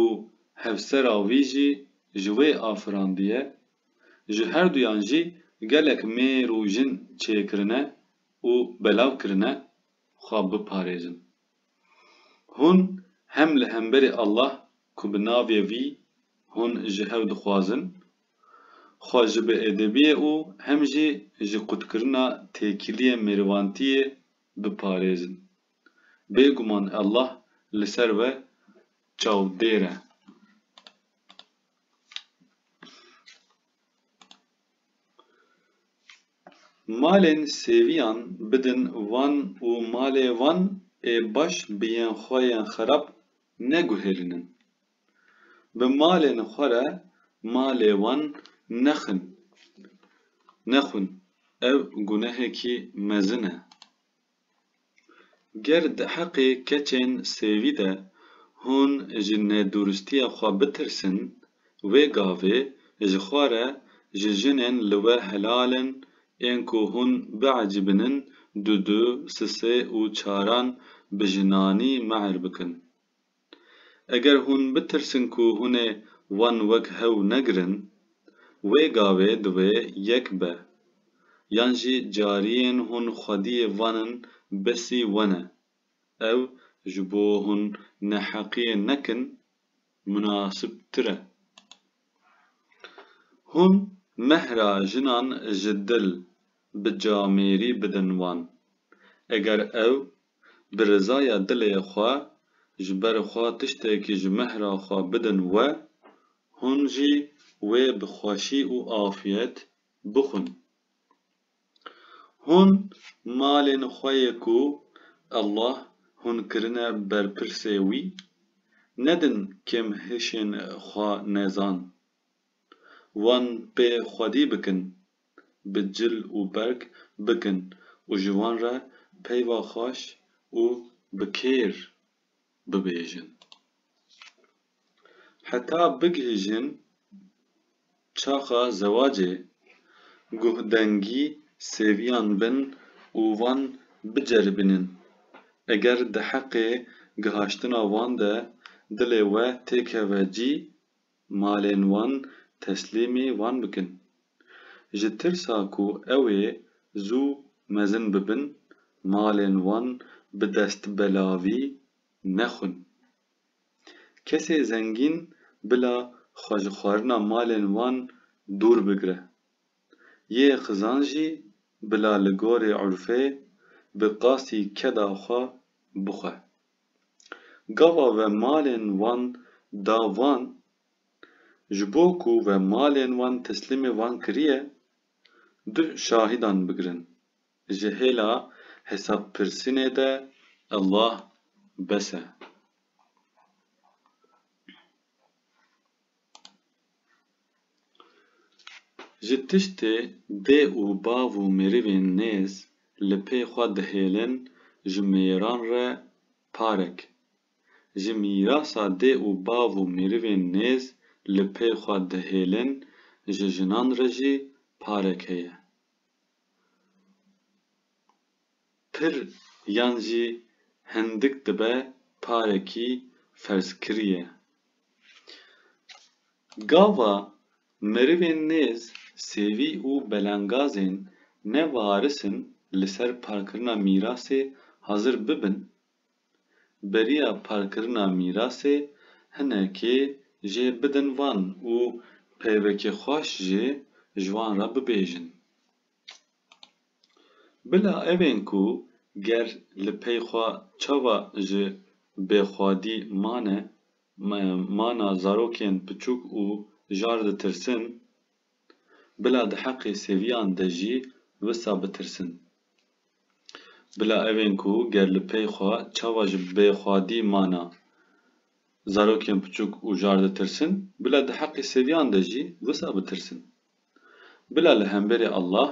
û hevsera wî jî ji wê afirandiye, ji herduyan jî gelek mêr û jin çêkirine û belav kirine xwe biparêzin. Hûn hem li hemberî Allah ku bi navê wî hûn ji hev dixwazin, xwe ji biêdebiyê û hem jî ji qutkirina têkiliyên mêrivantiyê biparêzin. Bêguman Allah li ser we çavdêr e. Malên sêviyan bidin wan û malê wan ê baş bi yên xwe yên xerab neguhêlinin. Bi malên xwe re malê wan nexin, nexwin, ev gunehekî mezin e. Ger di heqê keçên sêvî de hûn ji nedûristiya xwe bitirsin, wê gavê ji xwe re ji jinên li we helal in ên ku hûn biecîbinin Dudu, Sisê û Çaran bi jinanî mehr bikin. Eger hûn bitirsin ku hûn ê wan wek hew negirin, wê gavê divê yek be. Yan jî cariyên hûn xwediyê vanin besî we ne. Ew ji bo hûn neheqiyê nekin munasibtir e. Hûn mehra jinan ji dil bi camêrî bidin wan. Eger ew bi rizaya dilê xwe ji ber xwe tiştekî ji mehra xwe bidin we, hûn jî wê bi xweşî û afiyet bixwin. Hûn malên xwe yê ku Allah hûn kirine berpirsê wî, nedin kêmhişên xwe nezan. wan pê xwedî bikin, bi cil û berg bikin û ji wan re peyva xweş û bi kêr bibêjin. Heta bigihîjin çaxa zewacê, guhdengî sêviyan bin û wan biceribînin. Eger di heqê gihaştina wan de dilê we têkeve cî, Malên wan teslîmî wan bikin. Ji tirsa ku ew ê zû mezin bibin, malên wan bi destbelavî nexwin. Kesê zengîn bila xwe ji xwarina malên wan dûr bigire. Yê xizan jî bila li gorî urfê bi qasî keda xwe bixwe. Gava ve malên wan da van, ji bo ku ve malên wan teslîmê van kiriye, du şahîdan bigirin. Ji hêla hesabpirsînê de Allah bes e. Ji tiştê dê û bav û merivên nêz li pê xwe dihêlin ji mêran re parek. Ji mîrasa dê û bav û merivên nêz li pê xwe dihêlin ji jinan re jî parek heye. pir yan jî hindik dibe parekî ferzkirîye. Gava merivên nêz sêvî û belengazên ne varis in li ser parkirina mîrasê hazir bibin, beriya parkirina mîrasê hinekê jê bidin van û peyvekê xweş jê ji wan re bibêjin. Bila ev ên ku ger li pey xwe çawa ji bêxwedî mane, mana zarokên piçûk û jar ditirsin, bila di heqê sêviyan de jî wisa bitirsin. Bila ev ên ku ger li pey xwe çawa ji bêxwedî mane, zarokên piçûk û jar ditirsin, bila di heqê sêviyan de jî wisa bitirsin. Bila li hemberî Allah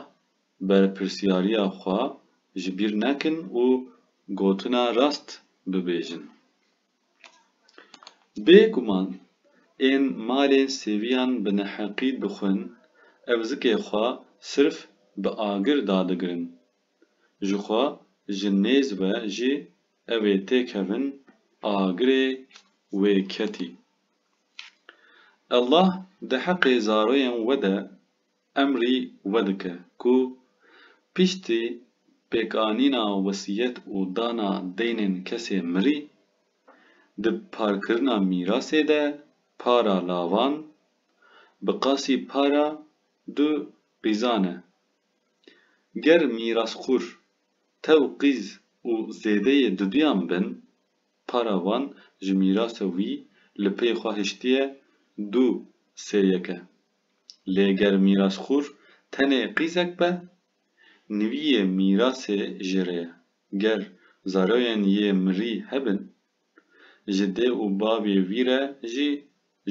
berpirsyariya xwe ji bîr nekin û gotina rast bibêjin. Bê guman ên malên sêviyan bi neheqî dixwin ev zikê xwe sirf bi agir dadigirin. Ji xwe ji nêz ve jî ew ê têkevin agirê wê ketî Allah di heqê zaroyên we de emrî vedike ku piştî pêkanîna wesiyet û dana deynên kesê mirî, di parkirina mîrasê de para lavan bi qasî para du qîzan e. Ger mîrasxwur tew qîz û zêdeyê duduyan bin, Para wan ji mîrasa wî li pey xwe hiştiye du sê yeke. Lê ger mîrasxwur tenê qîzek be, niviyê mîrasê jê re ye. Ger zaroyên yê mirî hebin, ji dê û bavê wî re jî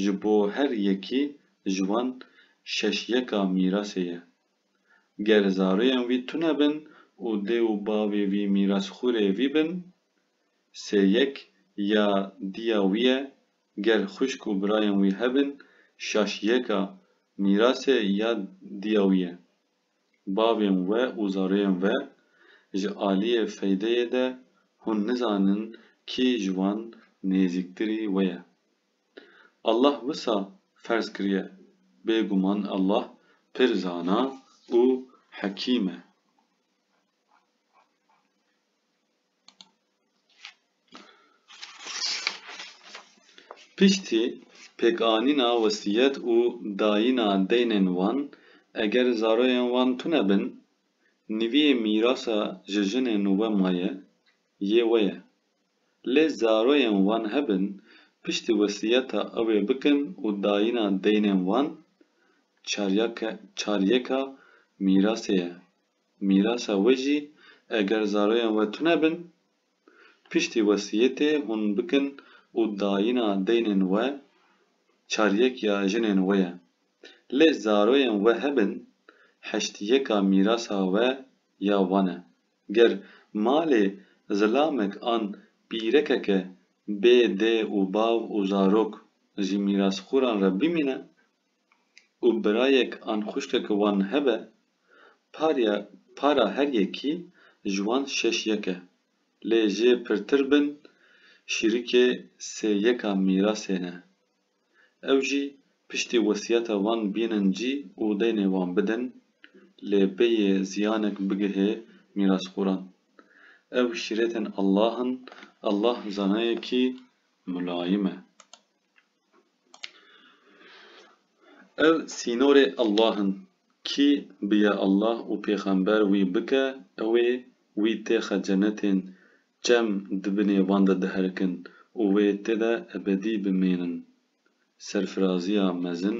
ji bo her yekî ji wan şeş yeka mîrasê ye. Ger zaroyên wî tune bin û dê û bavê wî mîrasxwurê wî bin, sê yek ya diya wî ye, ger xwişk û birayên wî hebin şaş yeka mîrasê ya diya wî ye. Bavên we û zarûyên we ji aliyê feydeyê de hûn nizanin kî ji wan nêzîktirî we ye. Allah wisa ferz kiriye, bêguman Allah pir zana û hekîm e. Piştî pêkanîna wesîyet û dayîna deynên wan, eger zaroyên wan tune bin, niviyê mîrasa ji jinên we maye, yê we ye. Lê zaroyên wan hebin, piştî wesîyeta ew ê bikin û dayîna deynên wan, çaryeka mîrasê ye, Mîrasa we jî eger zaroyan we tune bin, piştî wesiyetê hûn bikin û dayîna deynên we çaryek ya jinên we ye. Lê zaroyan we hebin, heştiyeka mîrasa we ya wan e. Ger malê zilamek an pîrekeke bê dê û bav û zarok ji mîrasxûran re bimîne, û birayek an xwişkeke wan hebe, parya para her yekî ji wan şeş yek e. Lê jê pirtir bin şîrikê sê yeka mîrasê ne. Ew jî piştî wesiyeta wan bînin cî û deynê wan bidin, lê bêyê ziyanek bigihê mîrasxoran. Ew şîretên Allah in, Allah zanayekî mulayim e. Ev sînorê Allah in. Kî bi ya Allah û pêxember wî bike ew ê wî têxe cenetên çem di binê wan de diherikin û wê tê de ebedî bimênin. Serfiraziya mezin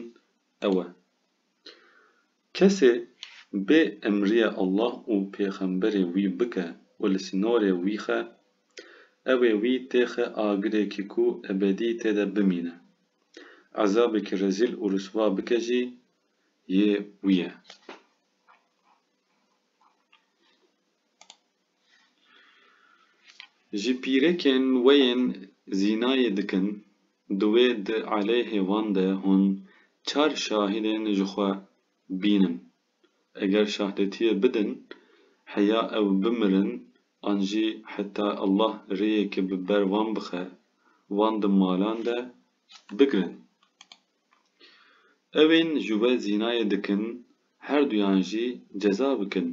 ew e. Kesê bê emriyê Allah û pêxemberê wî bike û li sînorê wî xe, ewê wî tê xe agirêkî ku ebedî tê de bimîne. Ezabekî rezîl û riswa bike jî yê wî ye. Ji pîrekên we yên zînayê dikin, divê di eleyhê wan de hûn çar şahidên ji xwe bînin. Eger şahdetiyê bidin, heya ew bimirin an jî heta Allah rêyekê bi ber wan bixe, wan di malan de bigrin. Ewên ji we zînayê dikin herduyan jî ceza bikin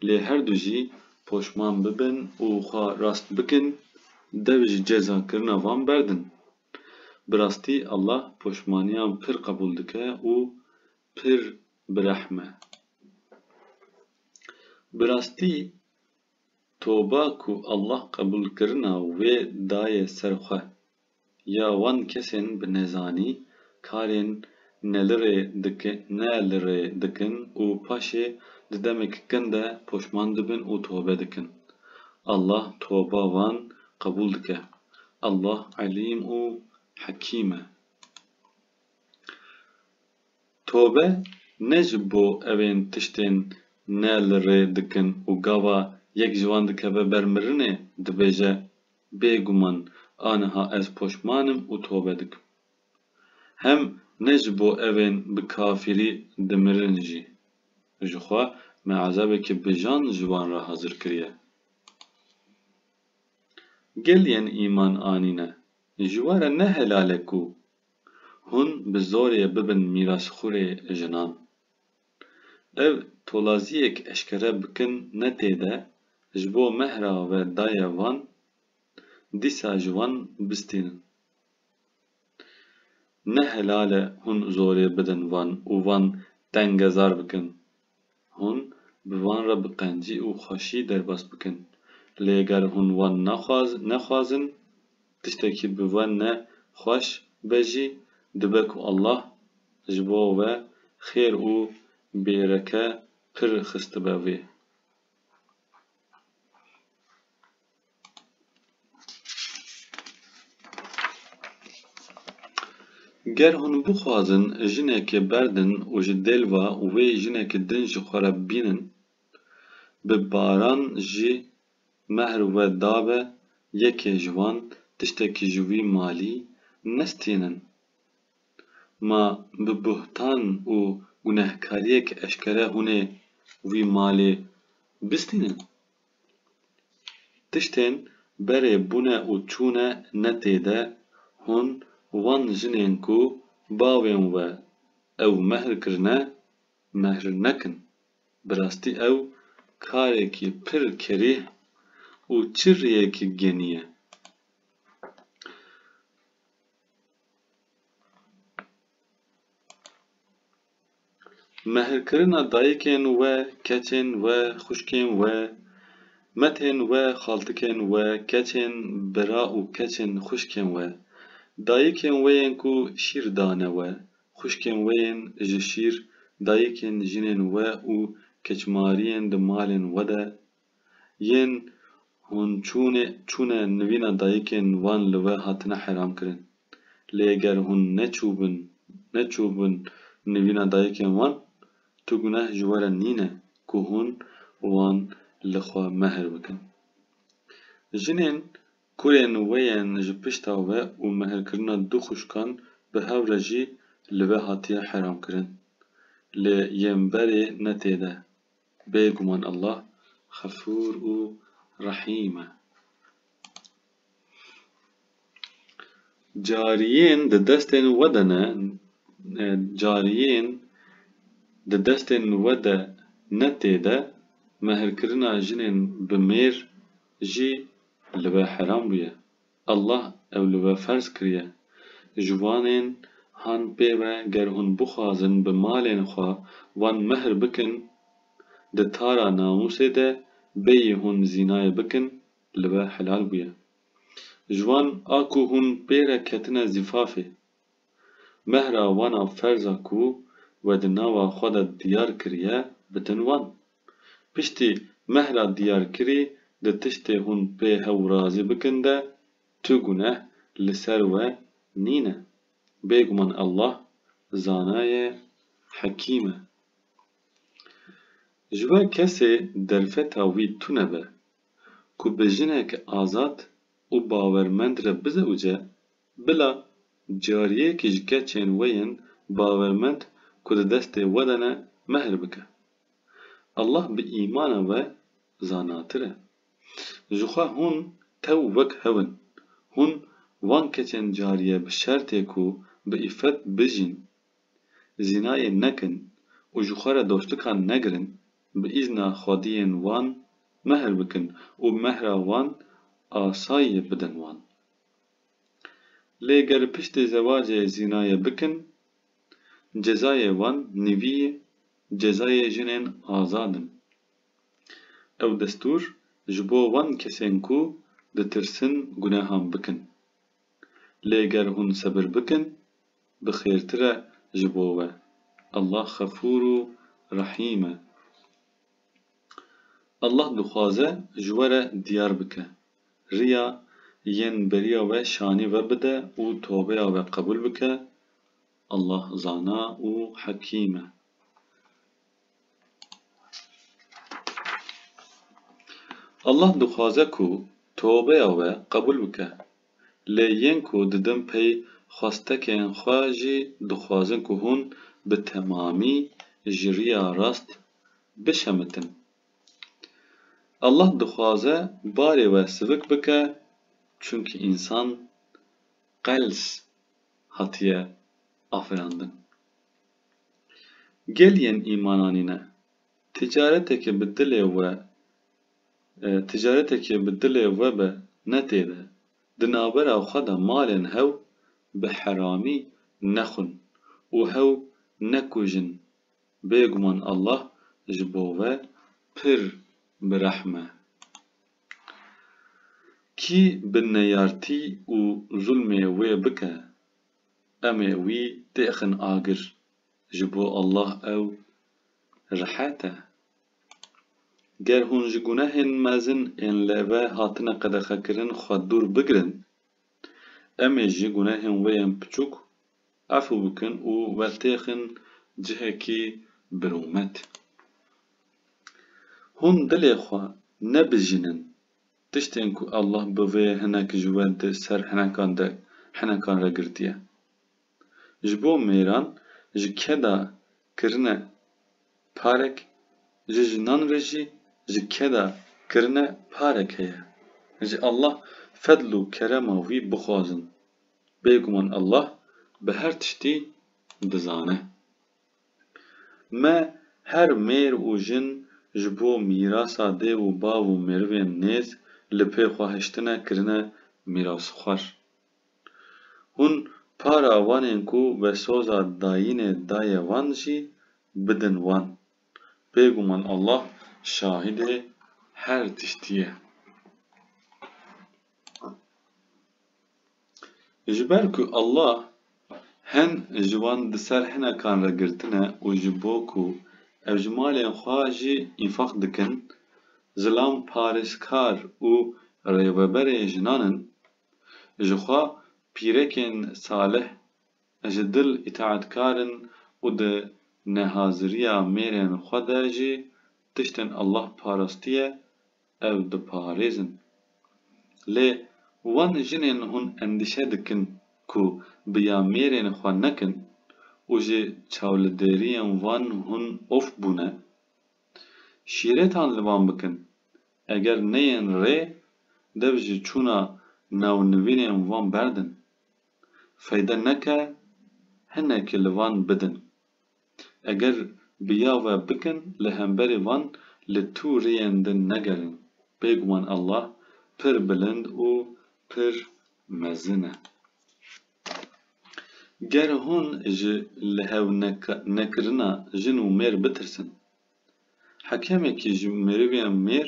lê herdu jî poşman bibin û xwe rast bikin dev ji ceza kirina van berdin. Bi rastî Allah poşmaniyan pir qebûl dike û pir bi rehm e. Bi rastî toba ku Allah qebûl kirina wê daye ser xwe. ya wan kesên bi nezanî karên nelirê diki nelirê dikin û paşê di demek kin de poşman dibin û tobe dikin. Allah toba wan qebûl dike. Allah Elîm û Hekîm e. Tobe ne ji bo evên tiştên nelirê dikin û gava yek ji wan dikeve ber mirinê dibêje Bêguman aniha ez poşman im û tobe dikim. Hem ne ji bo evên bi kafirî dimirin jî. Ji xwe me ezabekî bijan ji wan re hazir kiriye. Gel yên îman anîne, ji we re ne helal e ku hûn bi zorê bibin mîrasxûrê jinan. Ev tolaziyek eşkere bikin ne tê de ji bo mehra ve daye van dîsa ji wan bistînin. Ne helal e hûn zorê bidin van û van tengezar bikin. Hûn bi van re bi qencî û xweşî derbas bikin. Lê ger hûn wan nexwazin, tiştekî bi we ne xweş be jî dibe ku Allah, ji bo we xêr û bêreke pir xistibe vê. Ger hûn bixwazin jinekê berdin û ji dêlva wê jinekê din ji xwe re bînin, bi baran jî mehr we dabe yekê ji wan tiştekî ji wî malî nestînin. Ma bi buhtan û gunehkariyek eşkere hûnê wî malê bistînin? Tiştên berê bûne û çûne ne tê de, hûn wan jinên ku bavên we ew mehr kirine, mehr nekin. Bi rastî ew karekî pir kerîh û çi rêyekî genî ye. Mehrkirina dayikên we, keçên we, xwişkên we, metên we, xaltikên we, keçên bira û keçên xwişkên we, dayikên wê yên ku şîr dane we, xwişkên wê yên ji şîr, dayikên jinên we û keçmariyên di malên we de Yên hûn çûnê çûne nivîna dayikên wan li we hatine hêramkirin. Lê ger hûn neçûbin neçûbin nivîna dayikên wan, tu guneh ji we re nîne ku hûn wan li xwe mehr bikin. Jinên kurên we yên ji pişta we û mehrkirina du xwişkan bi hev re jî li we hatiye hêramkirin. Lê yên berê ne tê de. Bê guman Allah Xefûr û Rehîm e. Cariyên di destên we de ne Cariyên di destên we de ne tê de mehrkirina jinên bi mêr jî li we heram bûye. Allah ew li we ferz kiriye. Ji wanên han pê ve ger hûn bixwazin bi malên xwe wan mehr bikin, di tara namûsê de bêyî hûn zînayê bikin li we helal bûye. Ji wan a ku hûn pê re ketine zîfafê, Mehra wana ferza ku we di nava xwe de diyar kiriye bitin wan. Piştî mehra diyarkirî di tiştê hûn pê hew razî bikin de tu guneh li ser we nîne. Bêguman Allah zana ye hekîm e. Ji we kesê derfeta wî tune be ku bi jinek azad û bawermend re bizewce, Bila cariyekî ji keçên we yên bawermend ku di destê we de ne mehr bike. Allah bi îmana we zanatir e. Jixwe hûn tew wek hev in. Hûn wan keçên cariye bi şertê ku bi îffet bijîn, zînayê nekin û ji xwe re dostikan negirin, bi îzna xwediyên wan mehr bikin û mehra wan asayî bidin wan. Lê ger piştê zewacê zînayê bikin, cezayê wan nivî cezayê jinên azad in. Ew destûr ji bo wan kesên ku ditirsin gunehan bikin. Lê ger hûn sebir bikin, bi xêrtir e ji bo we. Allah xefûr û rehîm e. Allah dixwaze ji we re diyar bike. riya yên beriya we şanî vebide û tobeya we qebûl bike, Allah zana û hekîm e. Allah dixwaze ku tobeya we qebûl bike, lê yên ku didin pey xwestekên xwe jî dixwazin ku hûn bi temamî ji riya rast bişemitin. Allah dixwaze barê we sivik bike çunkî însan qels hatiye afirandin. Gel yên îmananîne, ticaretekê bi dilê we ticaretekê bi dilê we be ne tê de, di navbera xwe de malên hew bi heramî nexwin û hew nekujin Bêguman Allah ji bo we pir bi rehm e. Kî bi neyartî û zulmê wê bike, em ê wî têxin agir, ji bo Allah ew rihet e. Ger hûn ji gunehên mezin ên li ve hatine qedexekirin xwe dûr bigirin, em ê ji gunehên wê yên piçûk Efû bikin û we têxin cihekî birûmet. Hûn dilê xwe nebijînin tiştên ku Allah bi vê hinek ji we di ser hinekan de hinekan re girtiye. Ji bo mêran ji keda kirine parek, ji jinan re jî ji keda kirine parek heye. Ji Allah fedl û kerema wî bixwazin. Bêguman Allah bi her tiştî dizane. Me her mêr û jin ji bo mîrasa dê û bav û merivên nêz li pê xwe hiştine kirine mîrasxwar. Hûn para wanên ku vesoza dayînê daye wan jî bidin wan. Bêguman Allah şahidê her tiştî ye. Ji ber ku Allah hin ji wan di ser hinekan re girtine û ji bo ku ev ji malên xwe jî înfaq dikin, zilam parêzkar û rêveberên jinan in, ji xwe pîrekên salih ji dil îtaetkar in û di nehaziriya mêrên xwe de jî tiştên Allah parastiye, ew diparêzin. Lê wan jinên hûn endîşe dikin ku bi ya mêrên xwe nekin û ji çawlideriyên wan hûn of bûne. Şîretan li wan bikin, eger neyên rê dev ji çûna nawnivînên wan berdin. Feyde neke hinekî li wan bidin. Eger bi ya ve bikin li hemberî van li tu riyên din negerin. Bêguman Allah pir bilind û pir mezin e. Ger hûn ji li hev nekirina jin û mêr bitirsin, hekemekî ji merivên mêr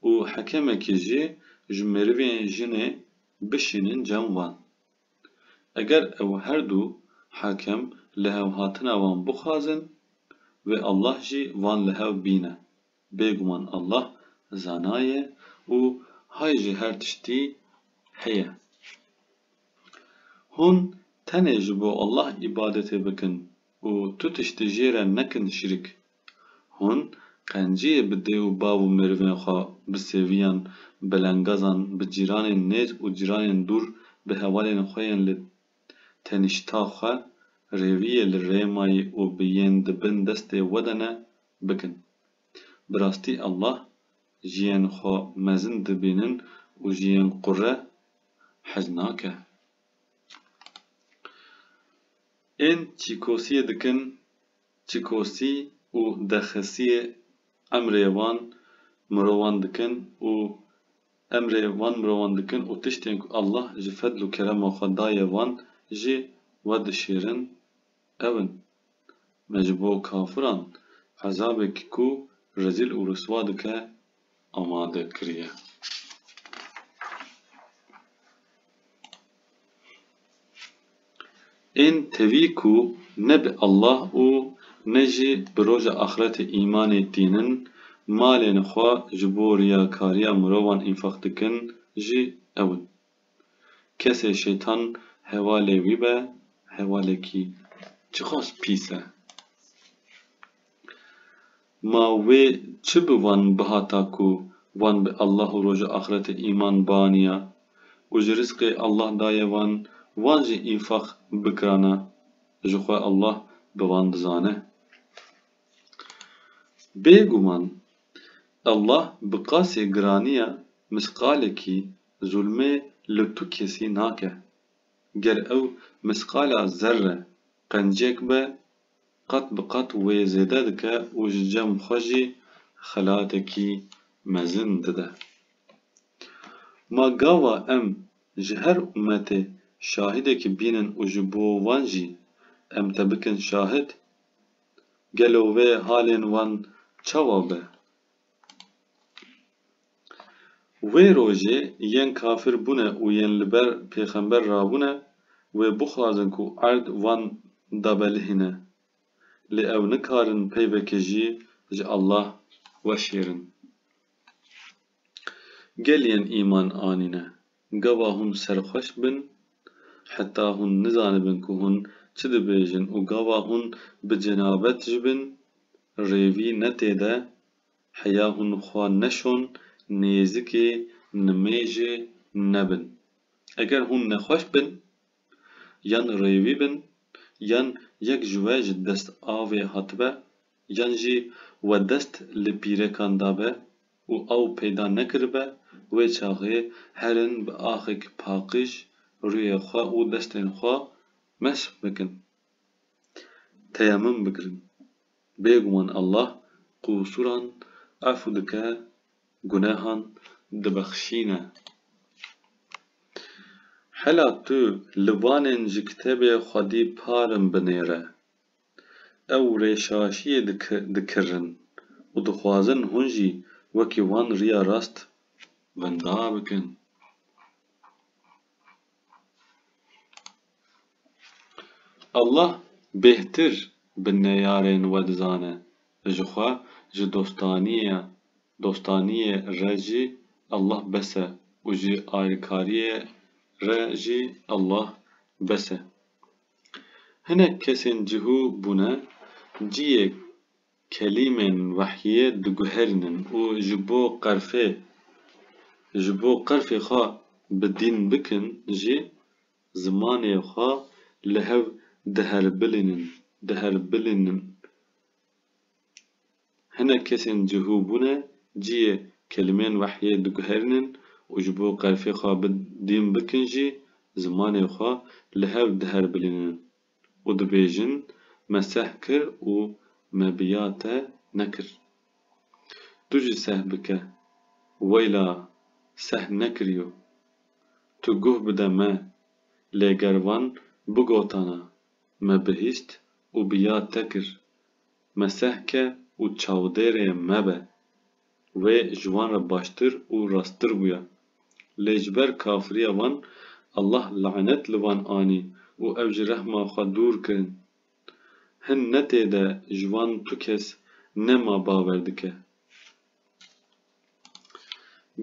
û hekemekî jî ji merivên jinê bişînin cem van. Eger ew her du hakim lihevhatina wan bixwazin, wê Allah jî van li hev bîne. Bêguman Allah zana ye û hay ji her tiştî heye. Hûn tenê ji bo Allah îbadetê bikin û tu tiştî jê re nekin şirk. Hûn qenciyê bi dê û bav û merivên xwe, bi sêviyan, belengazan, bi cîranên nêz û cîranên dûr, bi hevalên xwe yên li tenişta xwe, rêviyê li rêmayî û bi yên di bin destê we de ne, bikin. Bi rastî Allah jiyên xwe mezin dibînin û ji yên qure hez nake. Ên çîkosiyê dikin Çikosî û dexesiyê emrê wan mirovan dikin û emrê wan mirovan dikin û tiştên ku Allah ji fedl û kerema xwe daye wan jî wedişêrin ew in. Me ji bo kafiran ezabek ku rezîl û riswa dike amade kiriye. Ên tevî ku ne bi Allah û ne jî bi roja axretê îmanê tînin, malên xwe ji bo riyakariya mirovan înfaq dikin jî ew in. Kesê şêtan hevalê wî be hevalekî çiqas pîs e. Ma wê çi bi wan bihata ku wan bi Allah û Roja Axretê îman bianiya û ji rizqê Allah daye wan, wan jî înfaq bikirana ji xwe Allah bi wan dizane. Bêguman Allah bi qasê giraniya misqalekî Zulmê li tu kesî nake. Ger ew misqala zerre qencek be, qat bi qat wê zêde dike û ji cem xwe jî xelatekî mezin dide. Ma gava em ji her ummetê şahidekî bînin û ji bo wan jî em te bikin şahid? Gelo wê halên wan çawa be? Wê rojê yên kafir bûne û yên li ber pêxember rabûne wê bixwazin ku erd wan dabelihîne. Lê ew nikarin peyvekê jî ji Allah weşêrin. Gel yên îman anîne Gava hûn serxweş bin heta hûn nizanibin ku hûn çi dibêjin û gava hûn bi cenabet ji bin rêvî ne tê de heya hûn xwe neşon nêzikê nimêjê nebin. Eger hûn nexweş bin yan rêvî bin yan yek ji we ji dest avê hatibe yan jî we dest li pîrekan dabe û ew peyda nekiribe, wê çaxê herin bi axek paqij rûyê xwe û destên xwe mesh bikin, teyemum bigirin. Bêguman Allah qûsuran efû dike, gunehan dibexşîne. Hela tu li vanên ji kitêbê xwedî parin binêre. Ew rêşaşiyê dikirin û dixwazin hûn jî wekî wan riya rast wenda bikin. Allah bêhtir bi neyarên we dizane. Jixwe ji dostaniyê re jî Allah bes e û ji ayrkariyê re jî Allah bes e. Hinek kesên cihû bûne, ciyê kelîmên wehyiyê diguherînin û ji bo qerfê ji bo qerfê xwe bi dîn bikin jî zimanê xwe li hev diherbilînin diherbilînin. Hinek kesên cihû bûne, cihê kelimên wehyê diguherînin û ji bo qerfê xwe bidîn bikin jî zimanê xwe li hev diherbilînin û dibêjin me seh kir û me bi ya te nekir. Tu jî seh bike, weyla seh nekiriyo. Tu guh bide me, lê ger van bigotana me bihîst û bi ya te kir, Mesehke û çavdêrê me be. Wê ji wan re baştir û rasttir bûya. Lê ji ber kafiriya wan Allah lanet li wan anî û ew ji rehma xwe dûr kirin. Hin netê de ji wan tu kes nema bawer dike.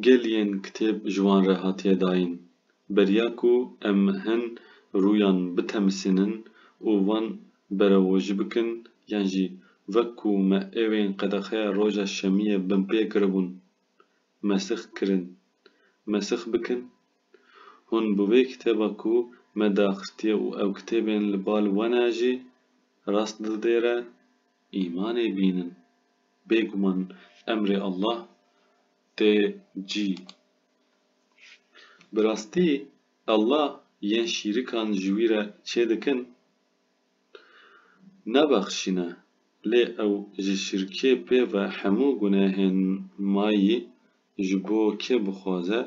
Gel yên kitêb ji wan re hatiye dayîn. Beriya ku em hin rûyan bitemisînin û wan berevojî bikin yan jî wek ku me êwên qedexeya roja şemiyê binpê kiribûn mesix kirin, mesix bikin? Hûn bi vê kitêba ku me daxistiye û ew kitêbên li bal we ne jî rast didêre, îmanê bînin. Bêguman emrê Allah tê cî. Bi rastî Allah yên şîrikan ji wî re çêdikin nabexşîne lê ew ji şirkê pê ve hemû gunehên mayî ji bo kê bixwaze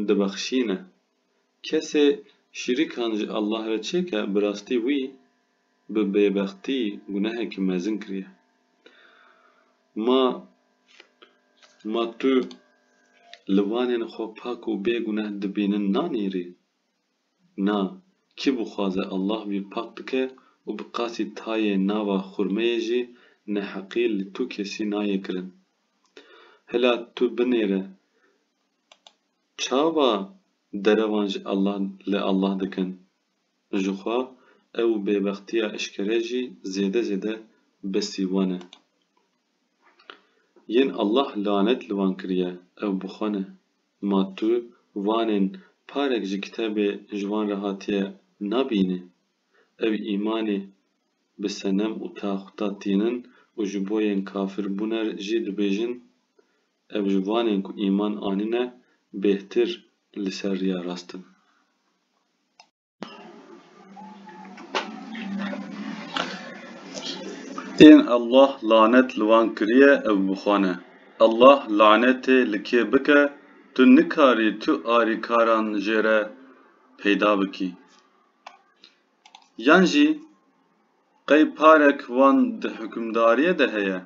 dibexşîne. Kesê şîrikan ji Allah re çêke bi rastî wî. bi bêbextî gunehekî mezin kiriye. Ma ma tu li wanên xwe pak û bê guneh dibînin nanîrî? Na, kî bixwaze Allah wî pak bike û bi qasî tayê nava xurmeyê jî neheqî li tu kesî nayê kirin. Hela tu binêre çawa derevan ji Allah li Allah dikin? jixwe ew bêbextiya eşkere jî zêde zêde bi sîwan e. Yên Allah lanet li wan kiriye ew bi xwe ne. Ma tu wanên parek ji kitebê ji wan re hatiye nabînî? Ew îmanê bi senem û taxûta tînin û ji bo yên kafir bûne jî dibêjin? Ew ji wanên ku îman anîne bêhtir li ser riya rast in. Tên Allah lanet li wan kiriye ev bixwane. Allah lanetê li kê bike tu nikarî tu arîkaran jêre peyda bikî. Yan jî Qey parek wan di hukimdariyê de heye?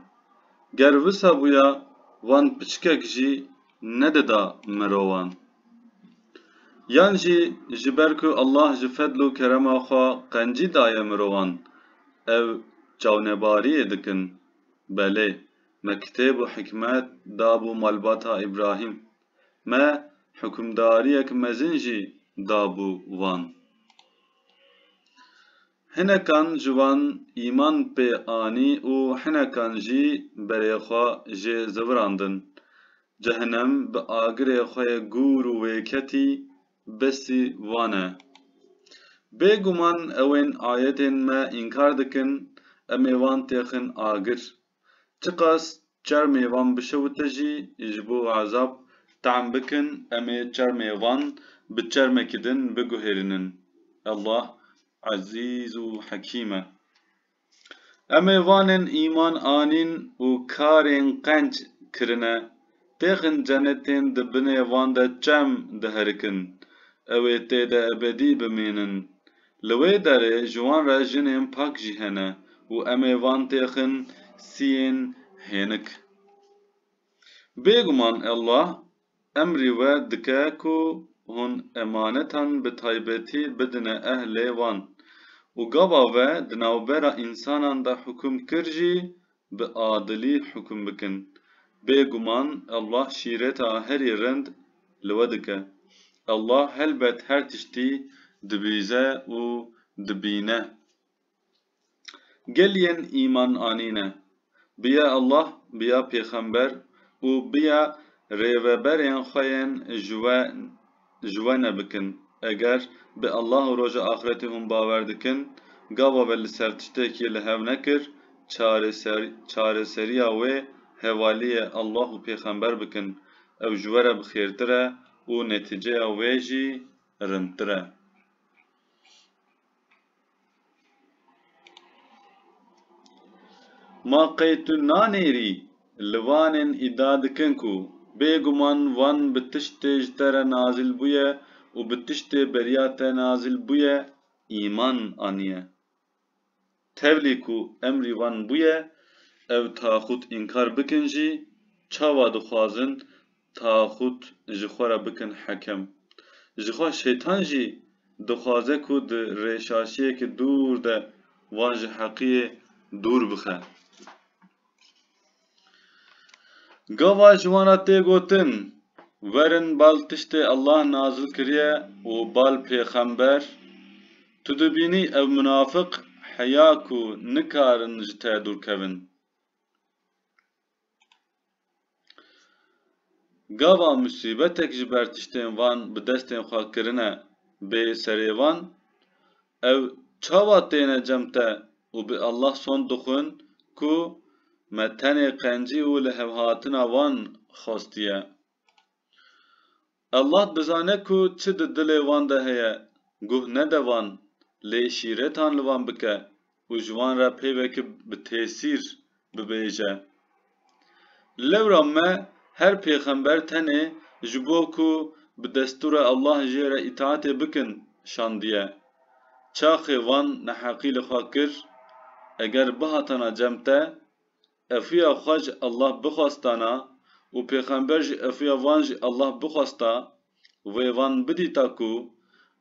Ger wisa bûya wan piçkek jî nedida mirowan? Yan jî ji ber ku Allah ji fedl û kerema xwe qencî daye mirowan ev çawnebariyê dikin? Belê, me kitêb û hikmet dabû malbata Îbrahîm. Me hukimdariyek mezin jî dabû wan. Hinekan ji wan îman pê anî û hinekan jî berê xwe jê zivirandin. Cehinem bi agirê xwe yê gûr û wêketî besî wan e. Bê guman ewên ayetên me înkar dikin, em ê wan têxin agir. Çiqas çermê van bişewite jî ji bo ezab tehm bikin em ê çermê van bi çermekî din biguhêrînin. Allah Ezîz û Hekîm e. Em ê vanên îman anîn û karên qenc kirine. Pêxin cenetên di binê van de çem diherikin, ew ê tê de ebedî bimînin. Li wê derê ji wan re jinên pak jî hene û em ê van têxin siyên hênik. Bêguman Allah emrî we dike ku hûn emanetan bi taybetî bidine ehlê wan û gava we di navbera însanan de hukûm kir jî Bi adilî hukum bikin. Bê guman Allah şîreta herî rind li we dike. Allah helbet her tiştî dibîze û dibîne. Gel yên îman anîne, bi ya Allah, bi ya pêxember û bi ya rêveberên xwe yên ji we Ji we ne bikin. Eger bi Allah û Roja Axretê hûn bawer dikin, gava ve li ser tiştekê li hev nekir, çareser çareseriya wê hevaliyê Allah û Pêxember bikin. Ew ji we re bi xêrtir e û netîceya wê jî rindtir e. Ma qey tu nanêrî? Li Wanên îdia dikin ku bêguman Wan bi tiştê ji te re nazîl bûye û bi tiştê beriya te nazîl bûye îman aniye. Tevlî ku emrî wan bûye, ew taxût înkar bikin jî, çawa dixwazin taxût ji xwe re bikin hekem? Jixwe Şeytan jî dixwaze ku di rêşaşiyeke dûr de wan ji heqiyê dûr bixe. Gava ji wan re tê gotin, Werin bal tiştê Allah nazil kiriye û bal pêxember, tu dibînî ew munafiq heya ku nikarin ji te dûr kevin. Gava musîbetek ji ber tiştên van bi destên xwe kirine bê serê wan, Ew çawa têne cem te û bi Allah sond dixwin ku me tenê qencî û lihevhatina wan xwestiye. Allah dizane ku çi di dilê wan de heye, guh nede wan, lê şîretan li wan bike û ji wan re peyveke bi tesîr bibêje. Lewra me her pêxember tenê ji bo ku bi destûra Allah jê re îtaetê bikin şandiye. Çaxê van neheqî li xwe kir, eger bihatana cem te, efuya xwe ji Allah bixwestana û pêxember jî efuya van ji Allah bixwesta, wê van bidîta ku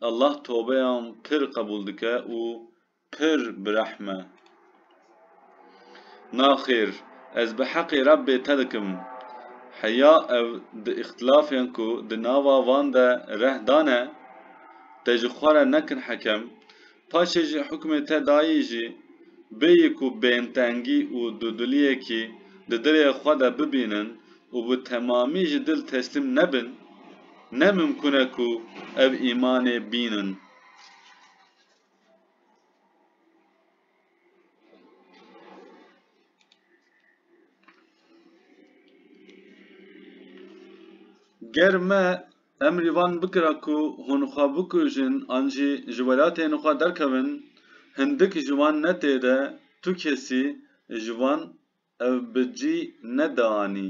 Allah tobeyan pir qebûl dike û Pir bi rehm e. Naxêr, ez bi heqê Rebbê te dikim. Heya ew di îxtilafên ku di nava van de reh dane, te ji xwe re nekin hekem, paşê jî hukmê te dayî jî, bêyî ku bêntengî û dudiliyekî di dilê xwe de bibînin û bi temamî ji dil teslîm nebin, ne mimkûn e ku ev îmanê bînin. Ger me emrî van bikira ku hûn xwe bikujin an jî ji welatên xwe derkevin, hindik ji wan ne tê de tu kesî ji wan ev bi cî ne dianî.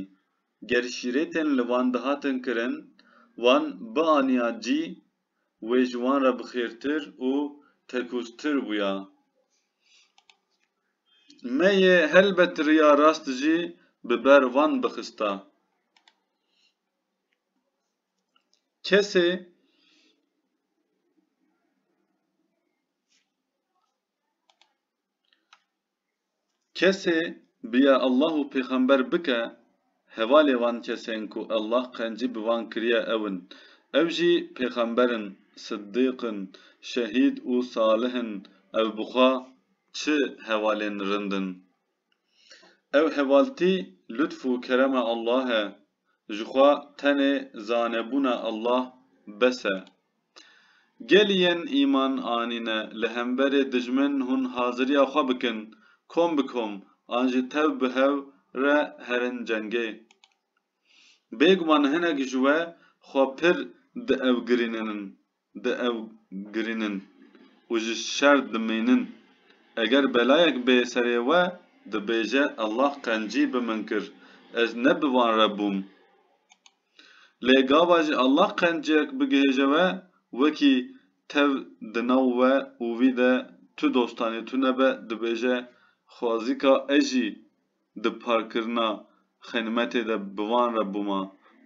Ger şîretên li van dihatin kirin, wan bianiya cî wê ji wan re bixêrtir û tekûztir bûya. Me yê helbet riya rast jî bi ber wan bixista. Kesê Kesê bi ya Allah û pêxember bike, hevalê wan kesên ku Allah qencî bi wan kiriye ew in. Ew jî pêxember in, siddîq in, şehîd û salih in. Ew bi xwe çi hevalên rind in? Ew hevaltî lutf û kerema Allah e, Ji xwe tenê zanebûna Allah bes e. Gelî yên îman anîne li hemberê dijmin hûn haziriya xwe bikin kom bi kom an jî tev bi hev re herin cengê. Bêguman hinek ji we xwe pir diewgirîninin. bi ew girînin û ji şer dimînin. Eger belayek bê serê we, dibêje Allah qencî bi min kir, ez ne bi wan re bûm. Lê gava jî Allah qenciyek bigihêje we, wekî tev di nav we û wî de tu dostanê tu nebe, dibêje xwazîka ez jî di parkirina xenimetê de bi wan re bûma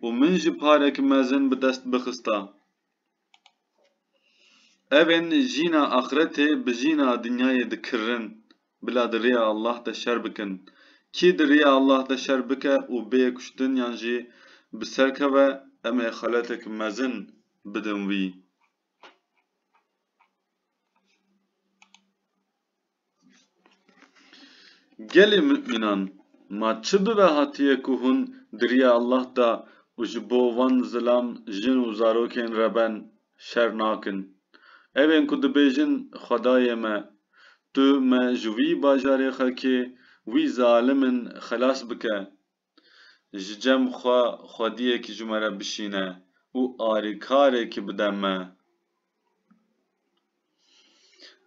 û min jî parek mezin bi dest bixista. Ev ên jîna axretê bi jîna dinyayê dikirin, bila di rêya Allah de şer bikin. Kî di rêya Allah de şer bike û bê kuştin yan jî bi ser keve, em ê xeletek mezin bidin wî. Gelê mumînan, ma çi bibe hatiye ku hûn di riya Allah de û ji bo van zilam jin û zarokên re ben şer nakin. Ev ên ku dibêjin Xwedayê me, tu me ji wî bajarê xelkê wî zalim in xelas bike. Ji cem xwe xwediyekî ji me re bişîne û alîkarekî bide me.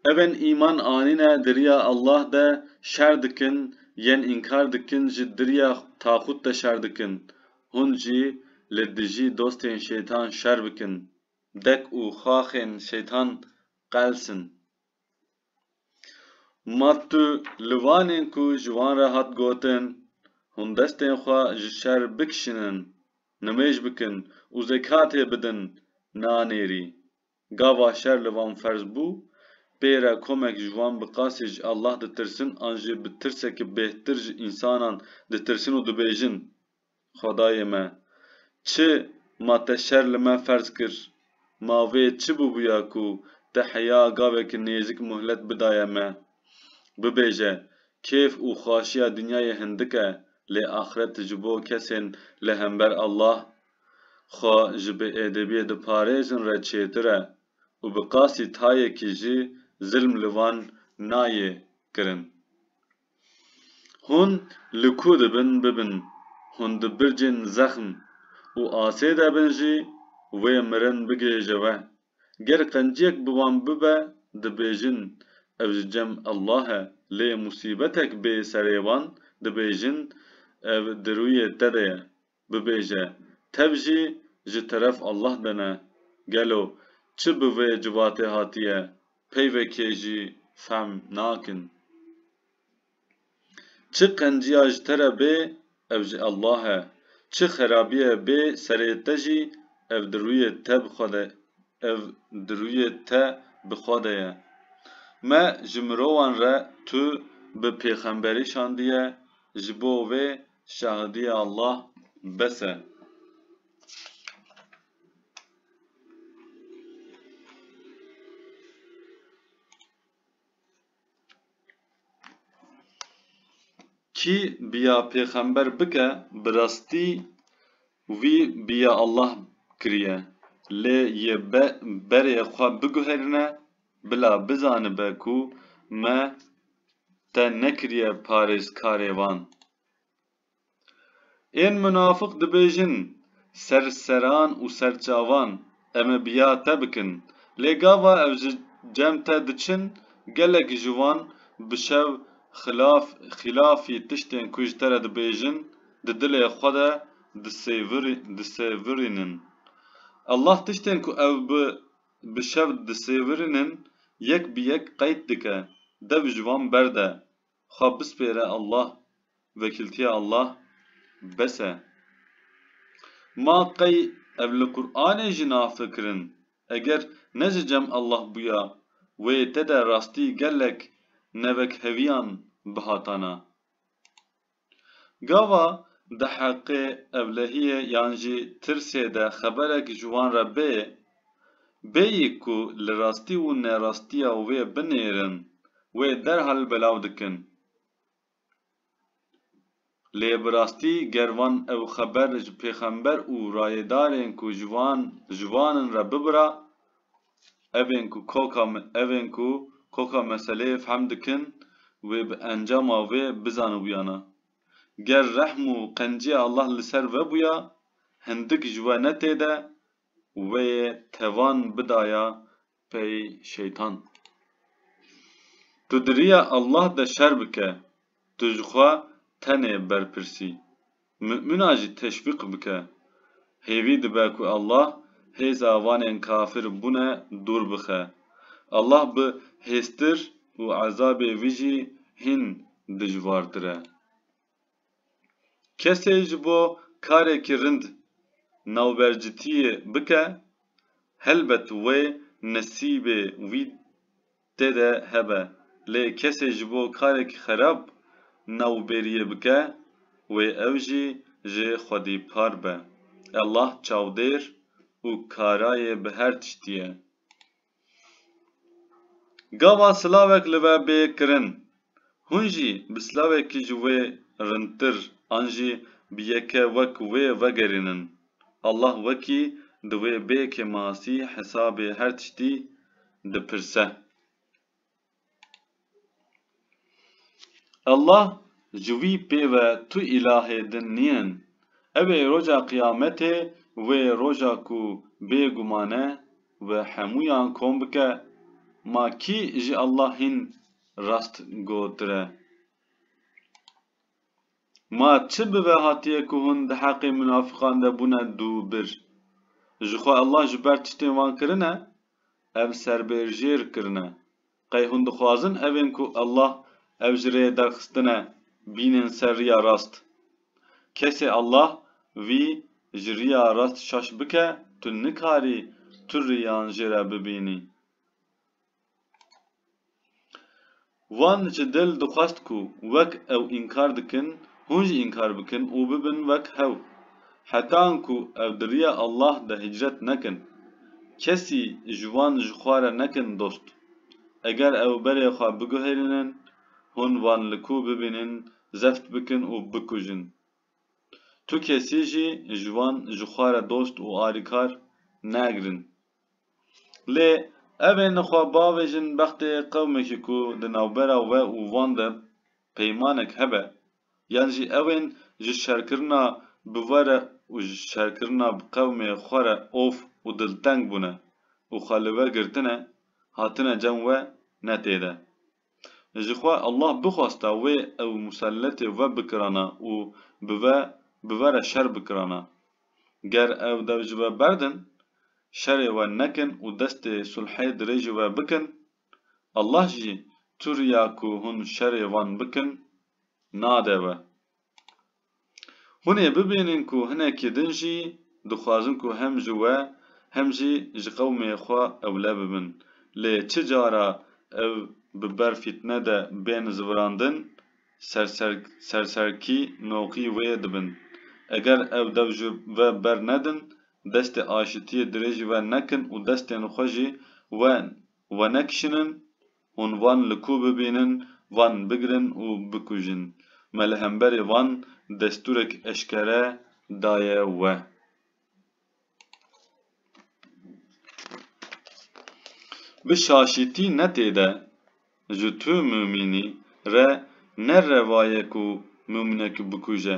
Evên îman anîne di riya Allah de şer dikin, yên înkar dikin jî di riya taxût de şer dikin. Hûn jî li dijî dostên şeytan şer bikin, dek û xaxên şeytan qelsin. Ma tu li van in ku ji wan re hat gotin, hûn destên xwe ji şer bikişînin, nimêj bikin û zekatê bidin nanêrî. Gava şer li van ferz bû, pê re komek ji wan bi qasî ji Allah ditirsin an jî bi tirseke bêhtir ji însanan ditirsin û dibêjin, Xwedayê me! Çi ma te şer li me ferz kir? Ma vê çi bûbûya ku te heya gavek nêzik muhlet bidaye me? Bibêje, kêf û xwaşiya dinyayê hindik e, lê axret ji bo kesên li hember Allah, xwe ji bêedebiyê diparêzin re çêtir e û bi qasî tayekî jî zilm li wan nayê kirin. Hûn li ku dibin bibin, hûn di bircên zexm û asê de bin jî wê mirin bigihêje we. Ger qenciyek bi wan bibe dibêjin ev ji cem Allah e lê musîbetek bê serê wan dibêjin ev di rûyê te de ye Bibêje, tev jî ji teref Allah de ne. Gelo çi bi vê civatê hatiye peyvekê jî fehm nakin. Çi qenciya ji te re bê ev ji Allah e, çi xerabiyê bê serê te jî ev di rûyê te bi xwe de ev di rûyê te bi xwe de ye. Me ji mirovan re tu bi pêxemberî şandiye ji bo vê Şahidî Allah bes e. Kî biya pêxember bike bi rastî wî biya Allah kiriye lê yê berê xwe biguherîne Bila bizanibe ku me te nekiriye parêzkarê wan. Ên minafik dibêjin, Serseran û serçavan, em ê biya te bikin. Lê gava ew ji cem te diçin, gelek ji wan bi şev xilaf xîlafî tiştên ku ji te re dibêjin, di dilê xwe de disêvirînin. Allah tiştên ku ew bi Bi şev disêvirinin yek bi yek qeyt dike dev ji wan berde xwe bispêre Allah vekiltiya Allah bes e ma qey ev li Quranê jî nafikirin eger ne ji cem Allah bûya wê te de rastî gelek nevekheviyan bihatana. Gava di heqê evlehiyê yan jî tirsê de xeberek ji wan re bêyê, bêyî ku li rastî û nerastiya wê binêrin, wê derhal belav dikin. Lê bi rastî ger van ew xeber ji pêxember û rayêdarên ku ji wan ji wan in re bibira, Ev ên ku koka ev ên ku koka meseleyê fehm dikin wê bi encama vê bizanibûyana. Ger rehm û qenciya Allah li ser ve bûya, hindik ji we ne têde, wê yê tevan bidaya pey şeytan. Tu di riya Allah de şer bike, tu ji xwe tenê berpirsî. Mu'mina jî teşwîq bike. Hêvî dibe ku Allah hêza wanên kafir bûne dûr bixe. Allah bi hêztir û ezabê wî jî hîn dijwartir e. Kesê ji bo karekî rind navbercitiyê bike, helbet wê nesîbê wî tê de hebe, lê kesê ji bo karek xerab navbêriyê bike wê ew jî ji xwedî par be. Ellah çavdêr û karayê bi her tiştî ye. Gava silavek li we bê kirin Hûn jî bi silavekî ji wê rindtir an jî bi yeke wek wê vegerînin. Allah wekî di wê bê kêmasî hesabê her tiştî dipirse. Allah ji wî pê ve tu îlahê din nîn. Ew ê roja qiyametê wê roja ku bê guman e wi hemûyan kom bike, ma kî ji Allah hîn Rast gotire. Ma çi bibe hatiye ku hûn di heqê munafiqan de bûne dû bir. Ji xwe Allah ji ber tiştên wan kirine, ev serbêrjêr kirine. Qey hûn dixwazin evên ku Allah ev ji rêyê derxistine bînin ser riya rast? Kesê Allah vî ji riya rast şaş bike tu nikarî tu riyan jê re bibînî. Wan ji dil dixwest ku wek ew înkar dikin hûn jî înkar bikin û bibin wek hew. Heta anku ev di riya Allah de hicret nekin. Kesî ji wan ji xwe re nekin dost. Eger ew berê xwe biguherînin, hûn wan li ku bibînin zeft bikin û bikujin. Tu kesî jî ji wan ji xwe re dost û alîkar negirin. Lê ev ê nixwe bavêjin bextê qewmekî ku di navbera we û wan de peymanek hebe yan jî ew ên ji şerkirina bi we re û ji şerkirina bi qewmê xwe re of û dilteng bûne û xwe li we girtine hatine cem we ne tê de. Ji xwe Allah bixwasta wê ew muselletê ve bikirana û bi ve bivere şer bikirana. Ger ew dev ji ve berdin, şerê we nekin û destê sulhê dirêjî we bikin, Allah jî tu riya ku hûn şerê wan bikin nade we. Hûn ê bibînin ku hinekî din jî dixwazin ku hem ji we hem jî ji qewmê xwe ewle bibin. Lê çi cara ev bi ber fîtne de bên zivirandin, serserkî noqî wê dibin. Eger ev dev ji ve ber nedin, destê aşitiyê dirêjî ve nekin û destên xwe jî we wenekişinin, Hûn van li ku bibînin, van bigirin û bikujin. Me li hemberê van destûrek eşkere daye we. Bi şaşîtî ne tê de, ji tu Mûmînî re ne revaye ku Mûmînek bikuje.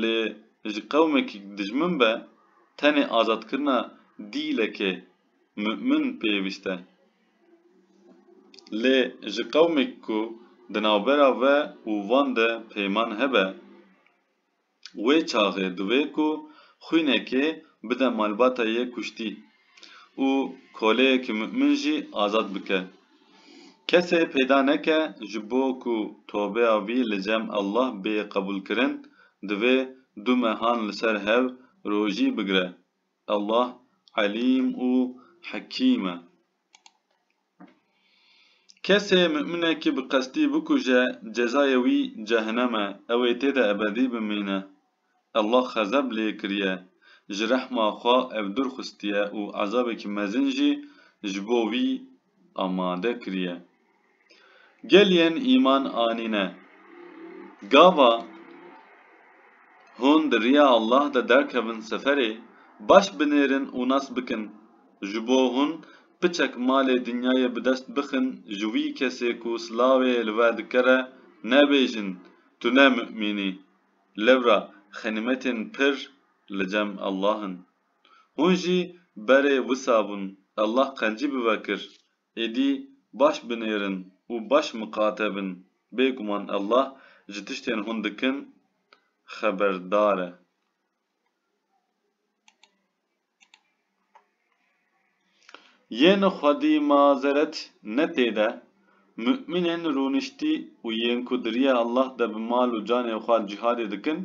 Lê ji qewmekî dijmin be, tenê azadkirina dîlekê mu'min pêwîst e. Lê ji qewmekî ku di navbera ve û van de peyman hebe, wê çaxê divê ku xwînekê bide malbata yê kuştî. û koleyekî mu'min jî azad bike. Kesê peyda neke ji bo ku tobeya wî li cem Allah bê qebûlkirin, divê du mehan li ser hev rojî bigire. Allah Elîm û Hekîm e. Kesê mu'minekî bi qestî bikuje cezayê wî cehenem e, ew ê tê de ebedî bimîne. Allah xezeb lê kiriye, ji rehma xwe ew dûr xwestiye û ezabekî mezin jî ji bo wî amade kiriye. Gel yên îman anîne, gava hûn di riya Allah de derkevin seferê, baş binêrin û nas bikin, ji bo hûn Piçek malê dinyayê bi dest bixin ji wî kesê ku silavê li wer dikere nebêjin tu ne mu'mîn î. Lewra xenîmetên pir li cem Allah in. Hûn jî berê wisa bûn Allah qencî bi ve kir. Êdî baş binêrin û baş miqate bin. Bêguman Allah ji tiştên hûn dikin xeberdar e. Yên xwedî mazeret ne tê de, mu'mînên rûniştî û yên ku di riya Allah de bi mal û canê xwe cîhadê dikin,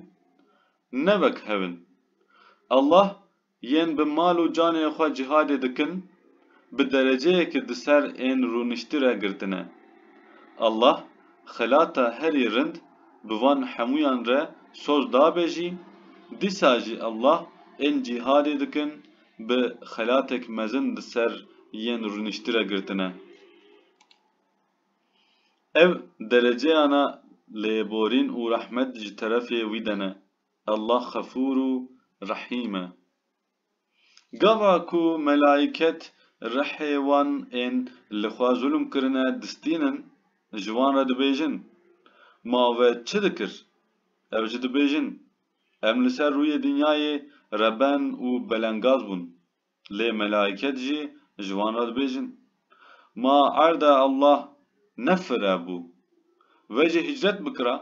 ne wek hev in. Allah, yên bi mal û canê xwe cîhadê dikin, bi dereceyekî di ser ên rûniştî re girtine. Allah xelata herî rind bi van hemûyan re soz dabe jî, dîsa jî Allah ên cîhadê dikin bi xelatek mezin di ser yên rûniştî re girtine. Ev dereceyana lêborîn û rehmet ji terefê wî de ne. Allah xefûr û rehîm e. Gava ku melayîket rihê wan ên li xwe zulm kirine distînin, ji wan re dibêjin, Ma ve çi dikir? Ev jî dibêjin, Em li ser rûyê dinyayê reben û belengaz bûn. Lê melayîket jî ji wan re dibêjin. Ma erda Allah ne fira bû. Vejî hicret bikira.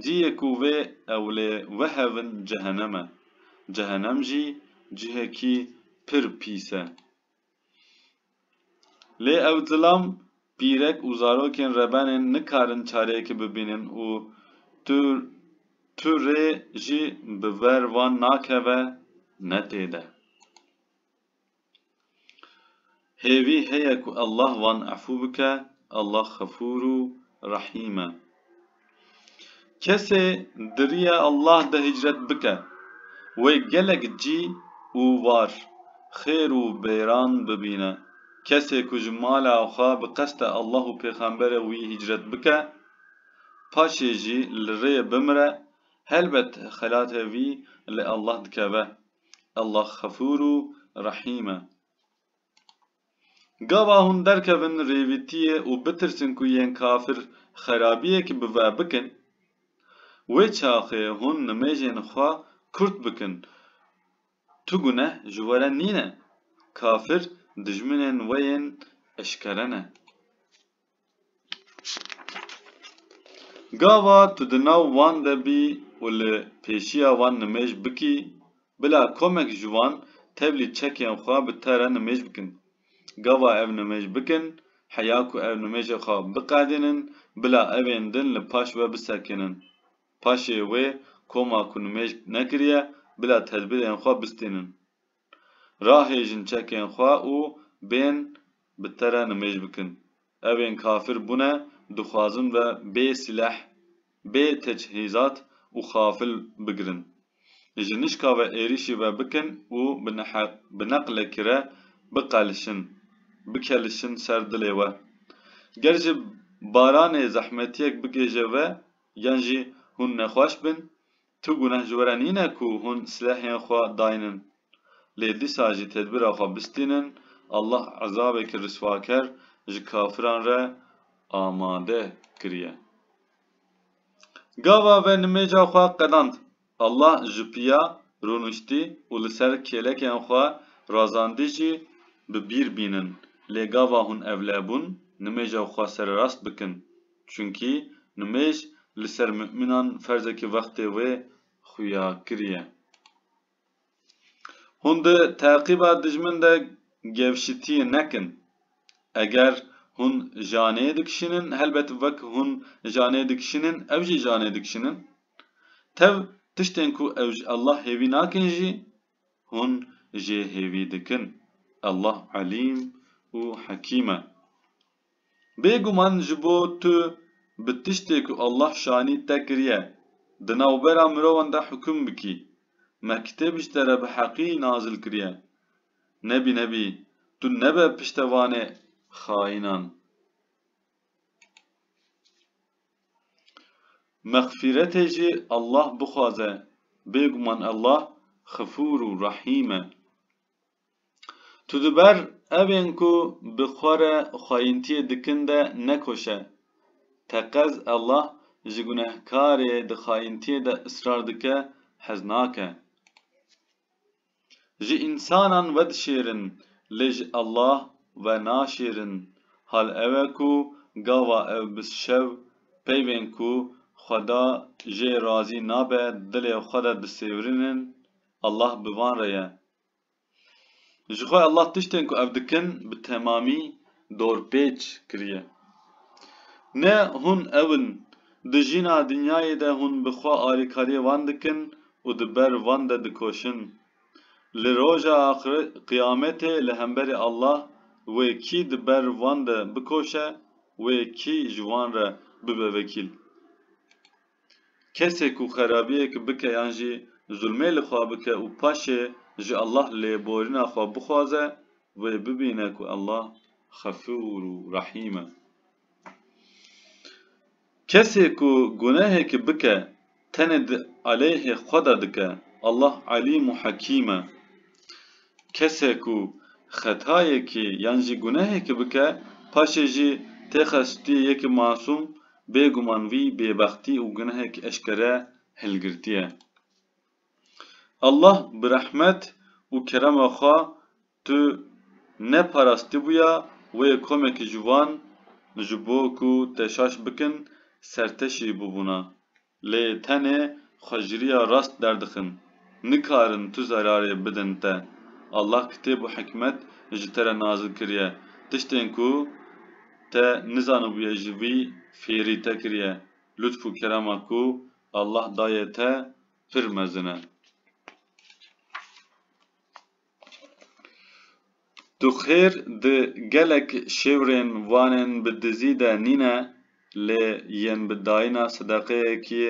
Cîyê ku vê ewlê wehevin cehenem e. Cehenem jî cihekî pir pîs e. Lê ew zilam pîrek û zarokên rebenên nikarin çareyekî bibînin û tu tu rê jî bi ver wan nakeve ne tê de. Hêvî heye ku Allah wan efû bike, Allah xefûr û rehîm e. Kesê di riya Allah de hicret bike, wê gelek cî û war, xêr û bêran bibîne. Kesê ku ji mala xwe bi qeste Allah û pêxemberê wî hicret bike, paşê jî li rê bimire, helbet xelatê vî li Allah dikeve. Allah xefûr û rehîm e. Gava hûn derkevin rêvîtiyê û bitirsin ku yên kafir xerabiyek bi ve bikin, wê çaxê hûn nimêjên xwe kurt bikin. Tu guneh ji we re nîne. Kafir dijminên we yên eşkere ne. Gava tu di nav wan de bî û li pêşiya wan nimêj bikî, bila komek ji wan tevlî çekên xwe bi te re nimêj bikin. Gava ev nimêj bikin, heya ku ev nimêjê xwe biqedînin, bila ev ên din li paş we bisekinin. Paşê wê koma ku nimêj nekiriye, bila tedbîrên xwe bistînin. Rahêjin çekên xwe û bên bi te re nimêj bikin. Ev ên kafir bûne, dixwazin ve bê sîleh, bê tecihîzat û xafil bigirin. Ji nişka ve êrîşî ve bikin û bi neqlekî re biqelişin, bikelişin ser dilê we. Ger ji baranê zehmetiyek bigêje we yan jî hûn nexweş bin, Tu guneh ji we re nîne ku hûn silehên xwe daynin, lê dîsa jî tedbîra xwe bistînin, Allah ezabekî riswaker ji kafiran re amade kiriye. Gava ve nimêja xwe qedand. Allah ji piya rûniştî û li ser kêlekên xwe razandî jî bi bîr bînin, lê gava hûn evlebûn nimêja xwe sererast bikin. Çunkî nimêj li ser mumînan ferzekî wextê wê xuya kiriye. Hûn di teqîba dijmin de gevşitiyê nekin. Eger hûn janê dikişînin, helbet wek hûn janê dikişînin ew jî janê dikişînin. Tev tiştên ku ew ji Allah hêvî nakin jî hûn jê hêvî dikin. Allah Elîm û Hekîm e. Bêguman ji bo tu bi tiştê ku Allah şanî te kiriye, di navbera mirovan de hukm bikî, me kitêb ji te re bi heqî nazil kiriye. Nebî nebî tu nebe piştevanê xaînan. Mexfîretê jî Allah bixwaze, bêguman Allah Xifûr û Rehîm e. Tu di ber evên ku bi xwe re xwayîntiyê dikin de nekoşe. Teqez Allah ji gunehkarê di xayîntiyê de israr dike hez nake. Ji însanan vedişêrin lê ji Allah ve naşêrin. Hal ew e ku gava ew bi şev peyvên ku Xweda jê razî nabe dilê xwe de disêwirinin, Allah bi van re ye. Jixwe Allah tiştên ku ev dikin bi temamî dorpêç kiriye. Ne hûn ew in, di jîna dinyayê de hûn bi xwe alîkariyê wan dikin û di ber wan de dikoşin. Li roja qiyametê li hemberî Allah wê kî di ber wan de bikoşe, wê kî ji wan re bibe vekîl. Kesê ku xerabiyek bike yan jî zulmê li xwe bike û paşê ji Allah lêborîna xwe bixwaze, wê bibîne ku Allah Xefûr û Rehîm e. Kesê ku gunehekî bike tenê di aleyhê xwe de dike, Allah Elîm û Hekîm e. Kesê ku xetayekî yan jî gunehekî bike, paşê jî têxe stûyê yekî masûm, Bê guman vî bêbextî û gunehek eşkere hilgirtî ye. Allah bi rehmet û kerema xwe tu neparastîbûya wê komekî ciwan ji bo ku te şaş bikin serteşî bûbûna. Lê tenê xweciriya rast derdixin. Nikarin tu zerarê bidin te. Allah kitêb û hikmet ji te re nazil kiriye. Tiştên ku te nizanibûye ji vî fêrî te kiriye. Lutf û kerema ku Allah dayê te pir mezin e. Tu xêr di gelek şêwrên vanên bi dizî de nîne lê yên bi dayîna sedeqeyekê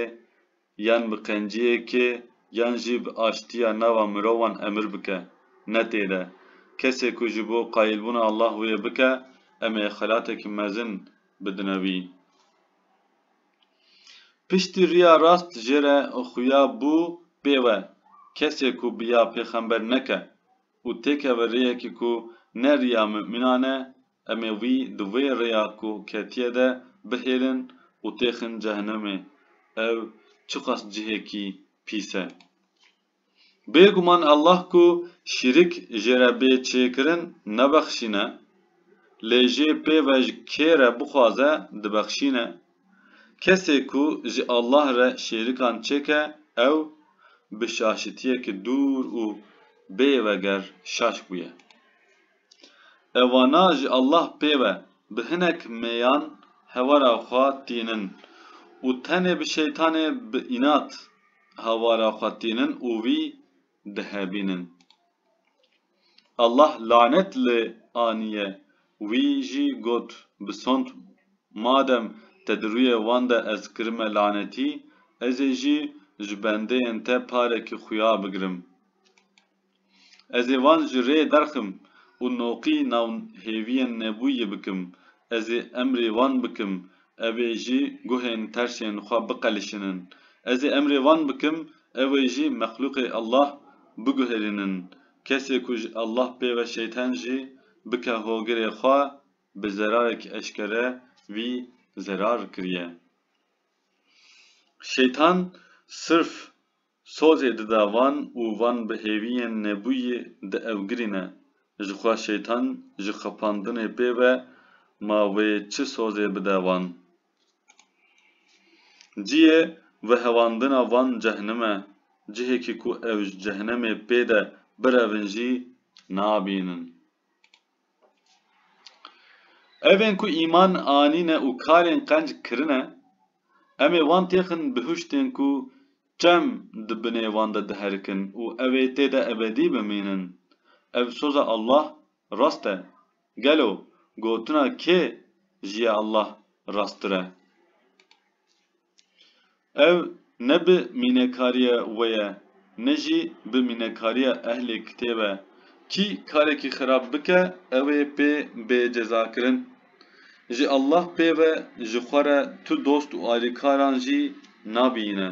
yan bi qenciyekê yan jî bi aştiya nava mirovan emir bike ne tê de. Kesê ku ji bo qayîlbûna Allah wê bike em ê xelateke mezin bidine wî. Piştî riya rast jê re xuya bû pê we, kesê ku bi ya pêxember neke û têkeve rêyekê ku ne riya mumînan e, em ê wî di wê rêya ku ketiye de bihêlin û têxin cehenemê. Ew çiqas cihêkî pîs e! Bêguman Allah ku şîrik jê re bê çêkirin nebexşîne, lê jê pê ve ji kê re bixwaze dibexşîne. Kesê ku ji Allah re şêrikan çêke ew bi şaşitiyekî dûr û bê veger şaş bûye. Ewana ji Allah pê be bi hinek mêyan hewara xwe tînin û tenê bi şeytanê bi înat hewara xwe tînin û wî dihebînin. Allah lanet lê anîye. Wî jî got, Bisond madem te di rûyê wan de ez kirime lanetî, ez ê jî ji bendeyên te parekî xuya bigirim. Ez ê wan ji rê derxim û noqî nav hêviyên nebûyî bikim, ez ê emrê wan bikim ew ê ji guhên terşên xwe biqelişinin, ez ê emrê wan bikim ew ê jî mexlûqê Allah biguherînin, kesê ku ji Allah pê ve şeytan jî bike hogirê xwe bi zerarek eşkere wî zerar kiriye. Şeytan sirf Sozê dida van û van bi hêviyên nebûyî dievgirîne. Ji xwe şeytan ji xepandinê pê ve ma wê çi sozê bide van. Ciyê vehewandina van cehnim e. Cihêkî ku ew ji cehnemê pê de birevin jî nabînin. Ev ên ku îman anîne û karên qenc kirine, em ê wan têxin bi hiştên ku çem di binê wan de diherikin û ew ê tê de ebedî bimînin. Ev soza Allah rast e. Gelo gotina kê ji ya Allah rasttir e? Ev ne bi mînekariya we ye, ne jî bi mînekariya ehlê kitêb e. Kî karekî xirab bike ew ê pê bê cezakirin. Ji Allah pê ve ji xwe re tu dost û alîkaran jî nabîyîne.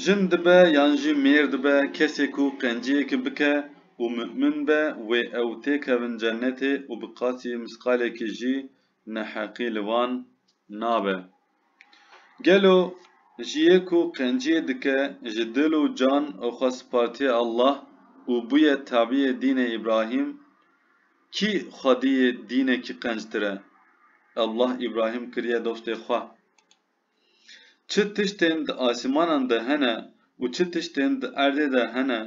Jin dibe yan jî mêr dibe kesê ku qenciyekî bike û mu'min be wê ew têkevin cennetê û bi qasî misqalekî jî Neheqî li wan nabe. Gelo ji yê ku qenciyê dike ji dil û can û xwe spartiye Allah û bûye tabiyê dînê Îbrahîm, kî xwediyê dînekî qenctir e? Allah Îbrahîm kiriye dostê xwe. Çi tiştên di asîmanan de hene û çi tiştên di erdê de hene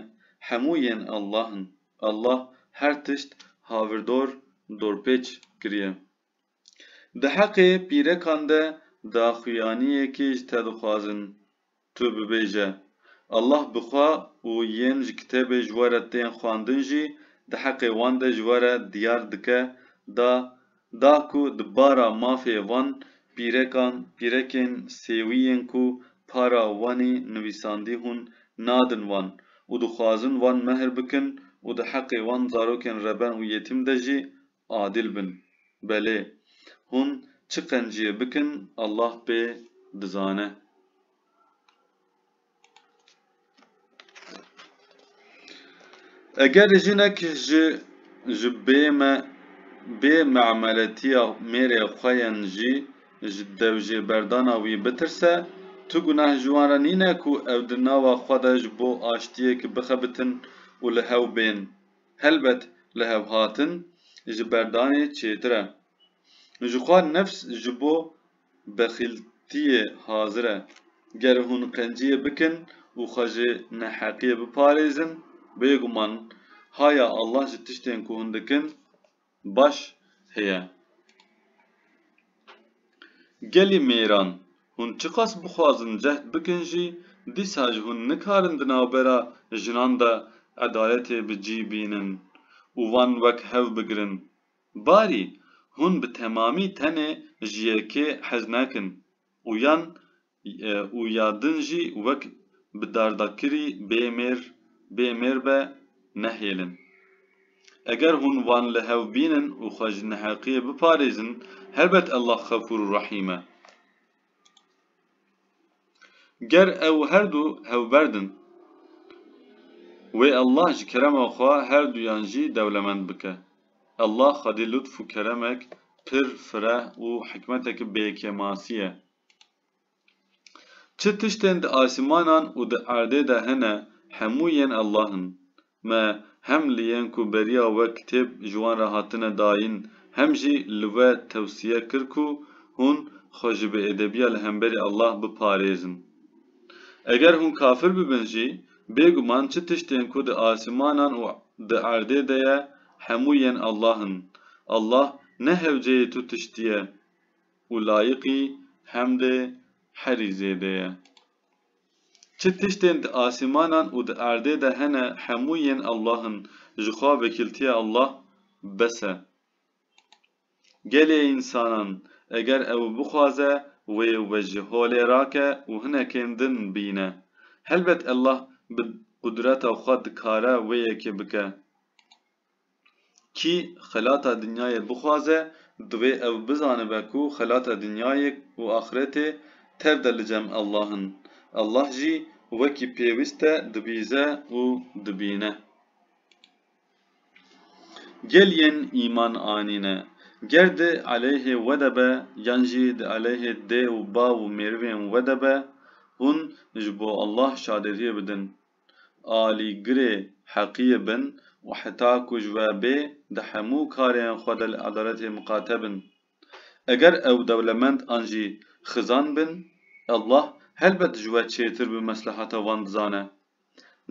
hemû yên Allah in. Allah her tişt havirdor dorpêç kiriye. Di heqê pîrekan de daxuyaniyekê ji te dixwazin, tu bibêje, Allah bi xwe û yên ji kitêbê ji we re tên xwandin jî di heqê wan de ji we re diyar dike da da ku di bara mafê van pîrekan pîrekên sêwî yên ku para Wanê nivîsandî hûn nadin wan û dixwazin wan mehr bikin û di heqê wan zarokên reben û yetîm de jî adîl bin. Belê. Hûn çi qenciyê bikin Allah pê dizane. Eger jinek ji ji bême bê me'meletiya mêrê xwe yên jî ji dewjêberdana wî bitirse, tu gunah ji wan re nîne ku ew di nava xwe de ji bo aştiyêkî bixebitin û li hew bên. Helbet lihevhatin ji berdanê çêtir e. Jixwe nefs ji bo Bexîltiyê hazir e. Ger hûn qenciyê bikin û xwe ji neheqiyê biparêzin, bêguman haya Allah ji tiştên ku hûn dikin baş heye. Gelê mêran hûn çiqas bixwazin cehd bikin jî, dîsa ji hûn nikarin di navbera jinan de edaletê bi cî bînin û van wek hev bigirin Barî, hûn bi temamî tenê ji yekê hez nakin û yan û ya din jî wek bi dardakirî bê mêr bê mêr be nehêlin. Eger hûn wan li hev bînin û xwe ji neheqiyê biparêzin, helbet Allah xefûr û rehîm e. Ger ew her du hewberd in, wê Allah ji kerema xwe her duyan jî dewlemend bike. Allah xwedî lutf û keremek pir fireh û hikmeteke bêkemasî ye. Çi tiştên di asîmanan û di erdê de hene hemû yên Allah in. Me hem li yên ku beriya we kitêb ji wan re hatine dayîn hem jî li we tewsiye kir ku hûn xwe ji bêedebiya li hemberî Allah biparêzin. Eger hûn kafir bibin jî, bêguman çi tiştên ku di asîmanan û di erdê de ye hemû yên Allah in. Allah ne hewceyê tu tiştî ye û layiqî hemdê herî zêde ye. Çi tiştên di asîmanan û di erdê de hene hemû yên Allah in, ji xwe vekîltiya Allah bes e. Gelê însanan eger ew bixwaze wê we ji holê rake û hinekên din bîne. Helbet Allah bi qudreta xwe dikare wê yekê bike. Kî xelata dinyayê bixwaze, divê ew bizanibe ku xelata dinyayê û axretê tev de li cem Allah in. Allah jî wekî pêwîst e dibîze û dibîne. Gel yên îman anîne, ger di eleyhê we de be yan jî di eleyhê dê û bav û mêrivên we de be, hûn ji bo Allah şadediyê bidin. alîgirê heqiyê bin û heta ku ji we bê di hemû karên xwe de li edaletê miqate bin. Eger ew dewlemend an jî xizan bin, Allah helbet ji we çêtir bi meslehata wan dizane.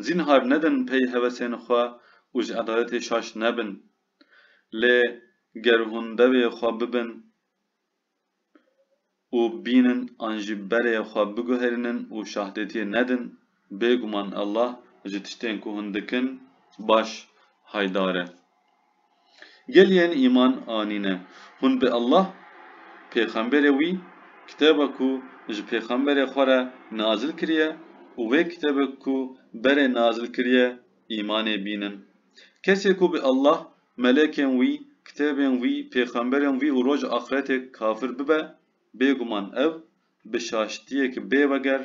Zînhar nedin pey hevesên xwe û ji edaletê şaş nebin. Lê ger hûn devê xwe bibin û bînin an jî berê xwe biguherînin û şahdetiyê nedin, bêguman Allah ji tiştên ku hûn dikin baş haydar e. Gel yên îman anîne, hûn bi Allah, pêxemberê wî, kitêba ku ji pêxemberê xwe re nazil kiriye û wê kitêbê ku berê nazil kiriye îmanê bînin. Kesê ku bi Allah Melekên wî, kitêbên wî, pêxemberên wî û roj axretê kafir bibe, bêguman ev bi şaştiyek bê veger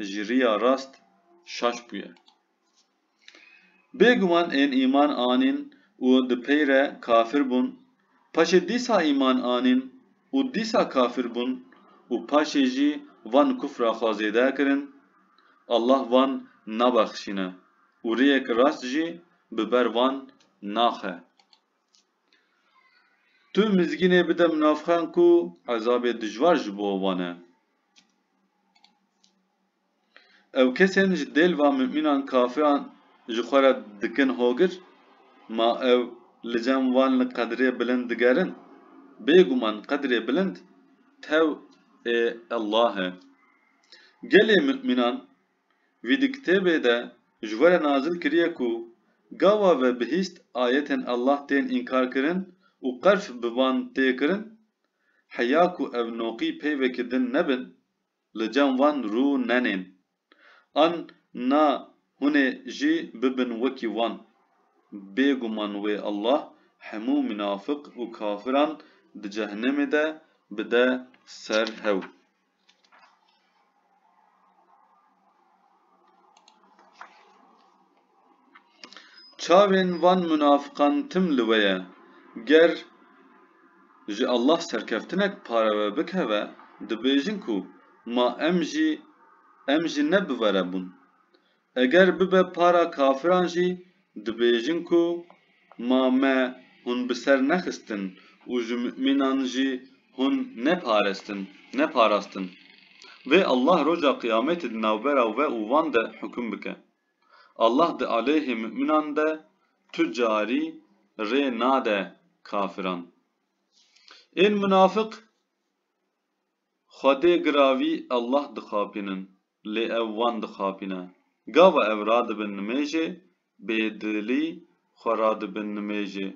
ji riya rast şaş bûye. Bêguman ên îman anîn û di pey re kafir bûn, paşê dîsa îman anîn û dîsa kafir bûn û paşê jî van kufra xwe zêde kirin, Allah van nabexşîne û rêyek rast jî Bi ber van naxe. Tu mizgînê bide min navxan ku ezabê dijwar ji bo wan e. Ew kesên ji dêl van mumînan kafiran ji xwe re dikin hogir, ma ew li cem wan li qedrê bilind digerin. Bêguman qedrê bilind tew ê Allah e. Gelê mumînan Vî di kitêbê de ji we re nazil kiriye ku gawa ve bihîst ayetên Allah tên înkarkirin û qerf bi van tê kirin, heya ku ev noqî peyvekî din nebin, li cem wan rû nenên. An na hunê jî bibin wekî wan. Bêguman wê Allah hemû minafik û kafiran di cehnemê de bide ser hew. Çavên van munafiqan tim li we ye, ger ji Allah serkeftinek pare we bikeve, dibêjin ku ma em jî em jî ne bi were bûn. Eger bibe para kafiran jî dibêjin ku ma me hûn bi ser nexistin û ji mumînan jî hûn neparestin, neparastin. Vê Allah roja qiyametê di navbera we û wan de hukum bike. Allah di aleyhê mumînan de tu carî rê nade kafiran. Ên munafik xwedê giravî Allah dixapînin. lê ew wan dixapîne. Gava ev radibin nimêjê, bêdilî xwe radibin nimêjê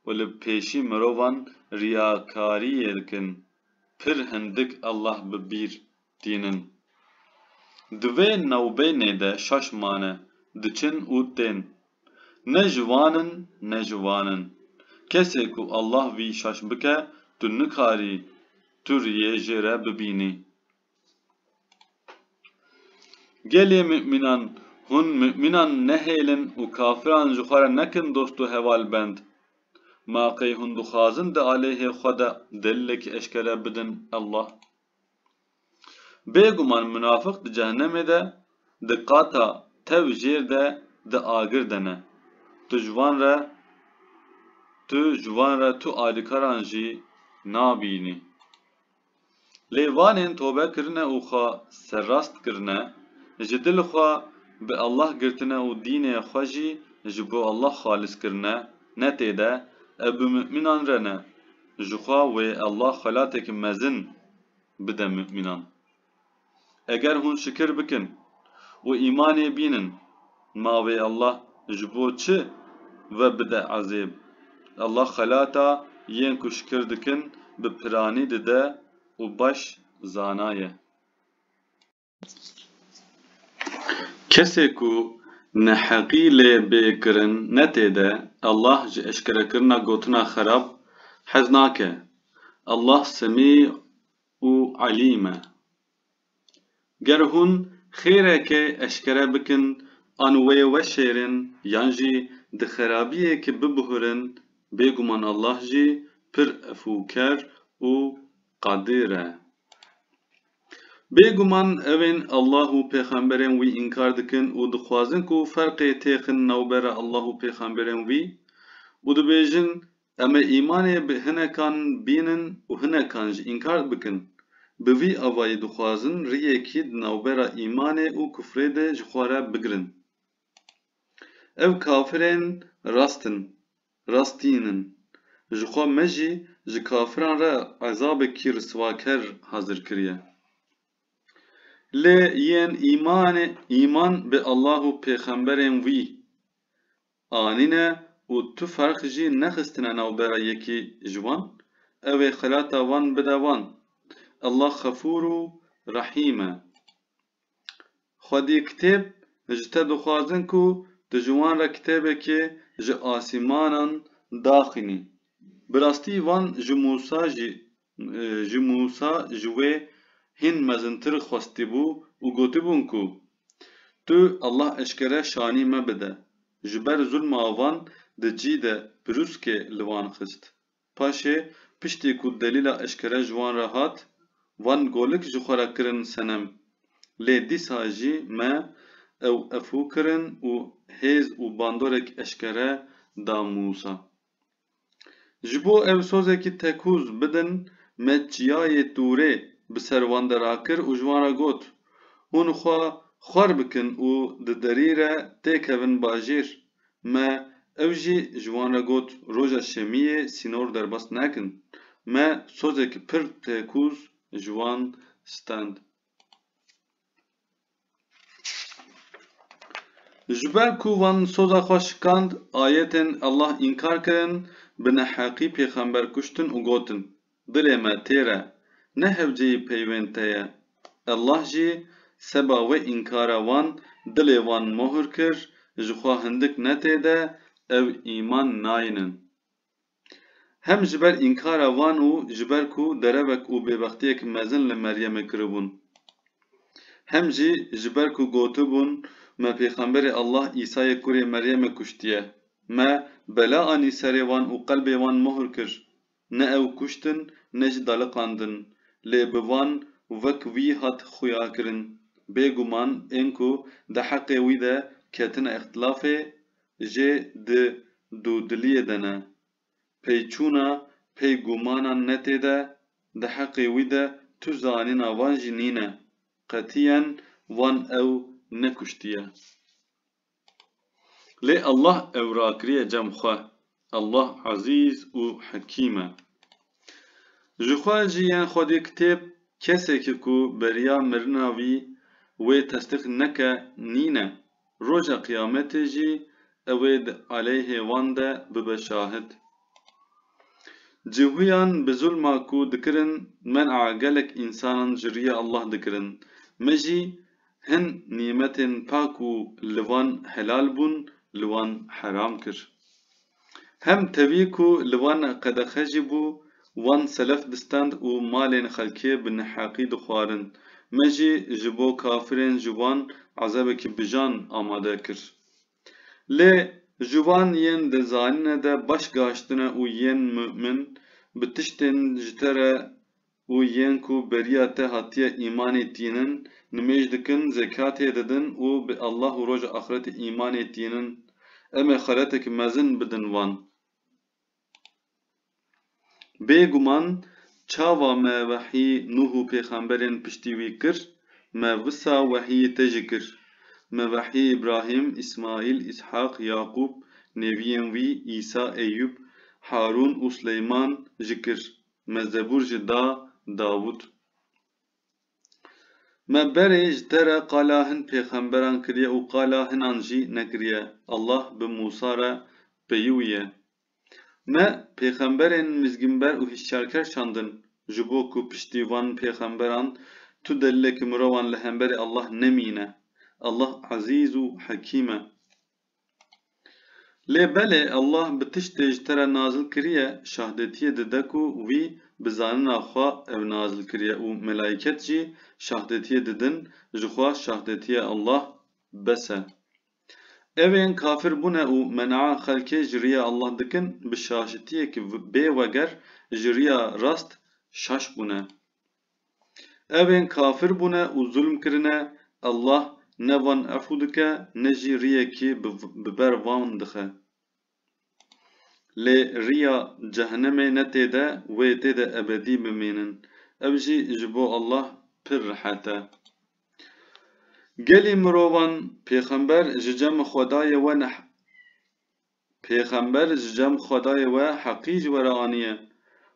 û li pêşî mirovan riyakariyê dikin, pir hindik Allah bi bîr tînin. Di vê navbênê de şaş mane, diçin û tên. Ne ji wan in ne ji wan in. Kesê ku Allah vî şaş bike tu nikarî tu riyê jê re bibînî. Gelê Mumînan, Hûn mumînan nehêlin û kafiran ji xwe re nekin dost û hevalbend. Ma qey hûn dixwazin di aleyhê xwe de delilekî eşkere bidin, Allah. Bêguman munafik di cehnemê de di qata tev jêr de di agir de ne. Tu ji wan re tu ji wan re tu alîkaran jî nabînî. Lê vanên tobe kirine û xwe serrast kirine, ji dil xwe bi Allah girtine û dînê xwe jî ji bo Allah xalis kirine, ne tê de, ev bi mumînan re ne. Jixwe wê Allah xelateke mezin bide mumînan. Eger hûn şikir bikin û îmanê bînin, ma wê Allah ji bo çi ve bide ezêb? Allah xelata yên ku şikir dikin bi piranî dide û baş zana ye. Kesê ku neheqî lê bê kirin netê de, Allah ji eşkerekirina gotina xerab hez nake. Allah semî û Elî me. Ger hûn xêreke eşkere bikin an wê weşêrin yan jî di xerabiyekê bibuhurin bêguman Allah jî pir efûker û qedîr e. Bêguman ewên Allah û pêxemberên wî înkar dikin û dixwazin ku ferqê têxin navbera Allah û pêxemberên wî û dibêjin Em ê îmanê bi hinekan bînin û hinekan jî înkar bikin. Bi vî avayî dixwazin riyekî di navbera îmanê û kufrê de ji xwe re bigirin. Ev kafirên rast in, rastîn in. Ji xwe me jî ji kafiran re ezabekî riswaker hazir kiriye. Lê yên îmanê îman bi Allah û pêxemberên wî, anîne û tu ferq jî nexistine navbera yekî ji wan, ew ê xelata wan bide wan. Ellah xefûr û rehîm e. Xwedî kitêb ji te dixwazin ku tu ji wan re kitêbekê ji asîmanan daxînî. Bi rastî wan ji Mûsa jî Ji Mûsa ji wê hîn mezintir xwestibû û gotibûn ku, Tu Allah eşkere şanî me bide. Ji ber zulma van di cî de pirûskê li wan xist. Paşê piştî ku delîla eşkere ji wan re hat, van golik ji xwe re kirin senem. Lê dîsa jî me ew efû kirin û hêz û bandorek eşkere da Mûsa. Ji bo ew sozekî tekûz bidin me çiyayê Tûrê bi ser wan de rakir û ji wan re got, Hûn xwe xwer bikin û di derî re tê kevin bajêr. Me ew jî ji wan re got roja şemiyê sînor derbas nekin. Me sozekî pir tekûz ji wan stend. Ji ber ku wan soza xwe şikand, ayetên Allah înkar kirin, bi neheqî pêxember kuştin û gotin, Dilê me têr e, ne hevceyî peyvên te ye. Allah jî seba wê înkara wan dilê wan mohr kir, jixwe hindik ne tê de, ew îman nayînin. Hem ji ber înkara wan û ji ber ku derevek û bêbextiyek mezin li Meryemê kiribûn. Hem jî ji ber ku gotibûn me pêxemberê Allah Îsayê kurê Meryemê kuştiye. Me bela anî serê wan û qelbê wan mohr kir. Ne ew kuştin ne jî daliqandin. Lê bi van wek wî hat xuyakirin. Bêguman ên ku di heqê wî de ketine îxtilafê Jê di dûdiliyê de ne. Peyçûna pey gûmanan ne tê de, di heqê wî de tu zanîna van jî nîne. Qetiyen wan ew nekuştiye. Lê Allah ew rakiriye cem xwe. Allah Ezîz û Hekîm e. Ji xwe jî yên Xwedî kitêb kesekî ku beriya mirina wî wê tesdiq neke nîne, roja qiyametê jî ew ê di aleyhê wan de bibe şahid. Cihûyan bi zulma ku dikirin men'a gelek însanan ji rîyê Allah dikirin. Me jî Hin nîmetên ka ku li wan helal bûn li wan heram kir. Hem tevî ku li wan qedexe jî bû, wan selef bistand û malên xelkê bi neheqî dixwarin. Me jî ji bo kafirên ji wan ezabekî bijan amade kir. Lê ji wan yên di zanîne de baş gaştine û yên mu'min bi tiştên ji te re û yên ku beriya te hatiye îmanê tînin, nimêj dikin, zekatê didin û bi Allah û roja axretê îmanê tînin, em ê xeretek mezin bidin wan. Bê guman çawa me wehî Nuh û pêxemberên piştî wî kir, me wisa wehî te jî kir. Me wehî Îbrahîm, Îsmaîl, Îshaq, Yaqûb, nêviyên wî, Îsa, Eyyûb, Harûn û Sileyman jî kir. Me zebûr jî da Davût. Me berê ji te re qala hin pêxemberan kiriye û qala hinan jî nekiriye, Allah bi Mûsa re peyûye. Me pêxemberên mizgînber û hişyarker şandin ji bo ku piştî van pêxemberan tu delîlekî mirovan li hemberî Allah nemîne. Allah Ezîz û Hekîm e. Lê belê Allah bi tiştê ji te re nazil kiriye şahdetiyê dide ku wî bi zanina xwe ew nazil kiriye û melayket jî şahdetiyê didin ji xwe şahdetiyê Allah bes e. Ew ên kafir bûne û menaa xelkê ji riya Allah dikin bi şaşitiyek bê weger ji riya rast şaş bûne. Evên kafir bûne û zulm kirine, Allah ne van efû dike ne jî riyekî bi ber wan dixe. Lê riya cehenemê ne tê de wê tê de ebedî bimînin. Ev jî ji bo Allah pir rihet e. Gelî mirovan, pêxember ji cem xwedayê we Pêxember ji cem Xwedayê we heqî ji we re aniye.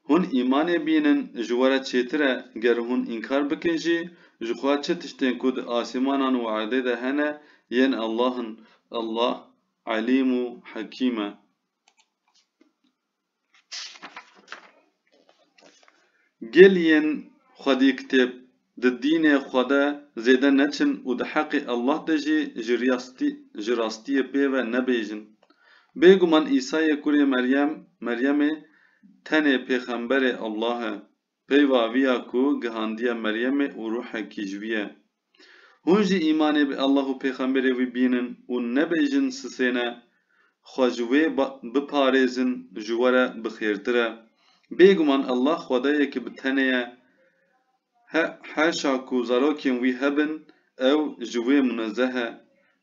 Hûn îmanê bînin ji we re çêtir e, ger hûn înkar bikin jî, jixwe çi tiştên ku di asîmanan û erdê de hene yên Allah'in, Allah Elîm û Hekîm e. Gel yên xwedî kitêb di dînê xwe de zêde neçin û di heqê Allah de jî ji rastiyê pê ve nebêjin. Bêguman Îsayê kurê Meryem, Meryemê, tenê pêxemberê Allah e Peyva vî ya ku gihandiye Meryemê û ruhekî ji wî ye. Hûn jî îmanê bi Allah û pêxemberê wî bînin û nebêjin sisêne, xwe ji wê biparêzin ji we re bi xêrtir e. Bêguman Allah xwedayekî bi tenê ye. He, heşa ku zarokên wî hebin ew ji wê munezeh e.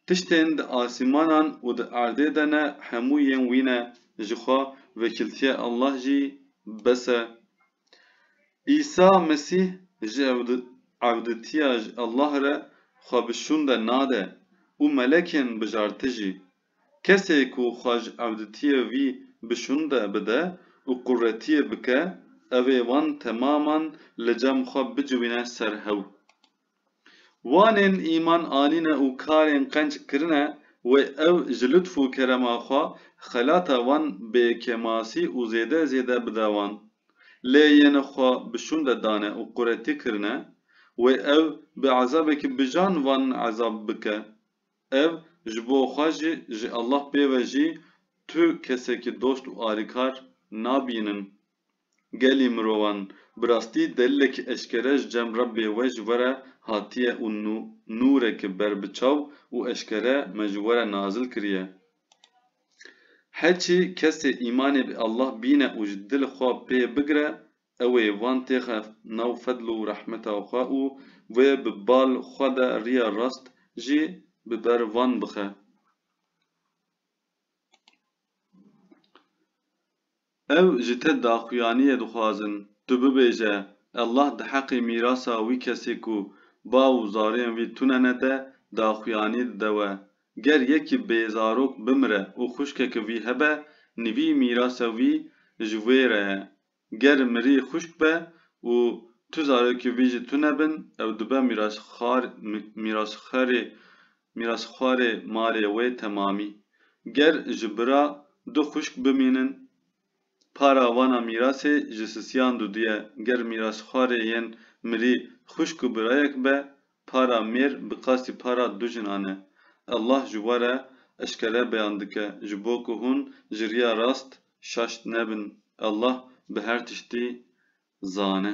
Tiştên di asîmanan û di erdê de ne hemû yên wî ne, ji xwe vekîltiya Allah jî bes e. Îsa Mesîh ji ewditiya ji Allah re xwe bi şûnde nade û melekên bijarti jî. Kesê ku xwe ji ewditiyê vî bi şûnde bide û quretiyê bike, ew ê wan temaman li cem xwe biciwîne ser hew. Wanên îman anîne û karên qenc kirine wê ew ji lutf û kerema xwe xelata wan bê kemasî û zêde zêde bide wan. Lê yên xwe bi şûnde dane û quretî kirine wê ew bi ezabekî bijan wan ezab bike. Ev ji bo xwe jî ji Allah pê ve jî tu kesekî dost û alîkar nabînin. gelî mirovan. Bi rastî delilek eşkere ji cem re bê we ji we re hatiye û nûrek berbiçav û eşkere me ji we re nazil kiriye. Heçî kesê îmanê bi Allah bîne û ji dil xwe pê bigre ew ê van têxe nav fedl û rehmeta xwe û wê bi bal xwe de riya rast jî bi ber van bixe. Ew ji te daxuyaniyê dixwazin tu bibêje Allah di heqê mîrasa wî kesê ku bav û zariyên wî tune nede daxuyanî dide we. Ger yekî bêzarok bimire û xwişkeke wî hebe nivî mîrasa wî ji wê re ye. Ger mirî xwişk be û tu zarokê wî jî tune bin ew dibe mîrasxerê Mîrasxwarê malê wê temamî. Ger ji bira du xwişk bimînin, para vana mîrasê ji sisiyan dudiye. Ger mîrasxwarê yên mirî xwişk û birayek be, para mêr bi qasî para du jinan e. Allah ji we re eşkere beyan dike ji bo ku hûn ji riya rast şaş nebin. Allah bi her tiştî zane.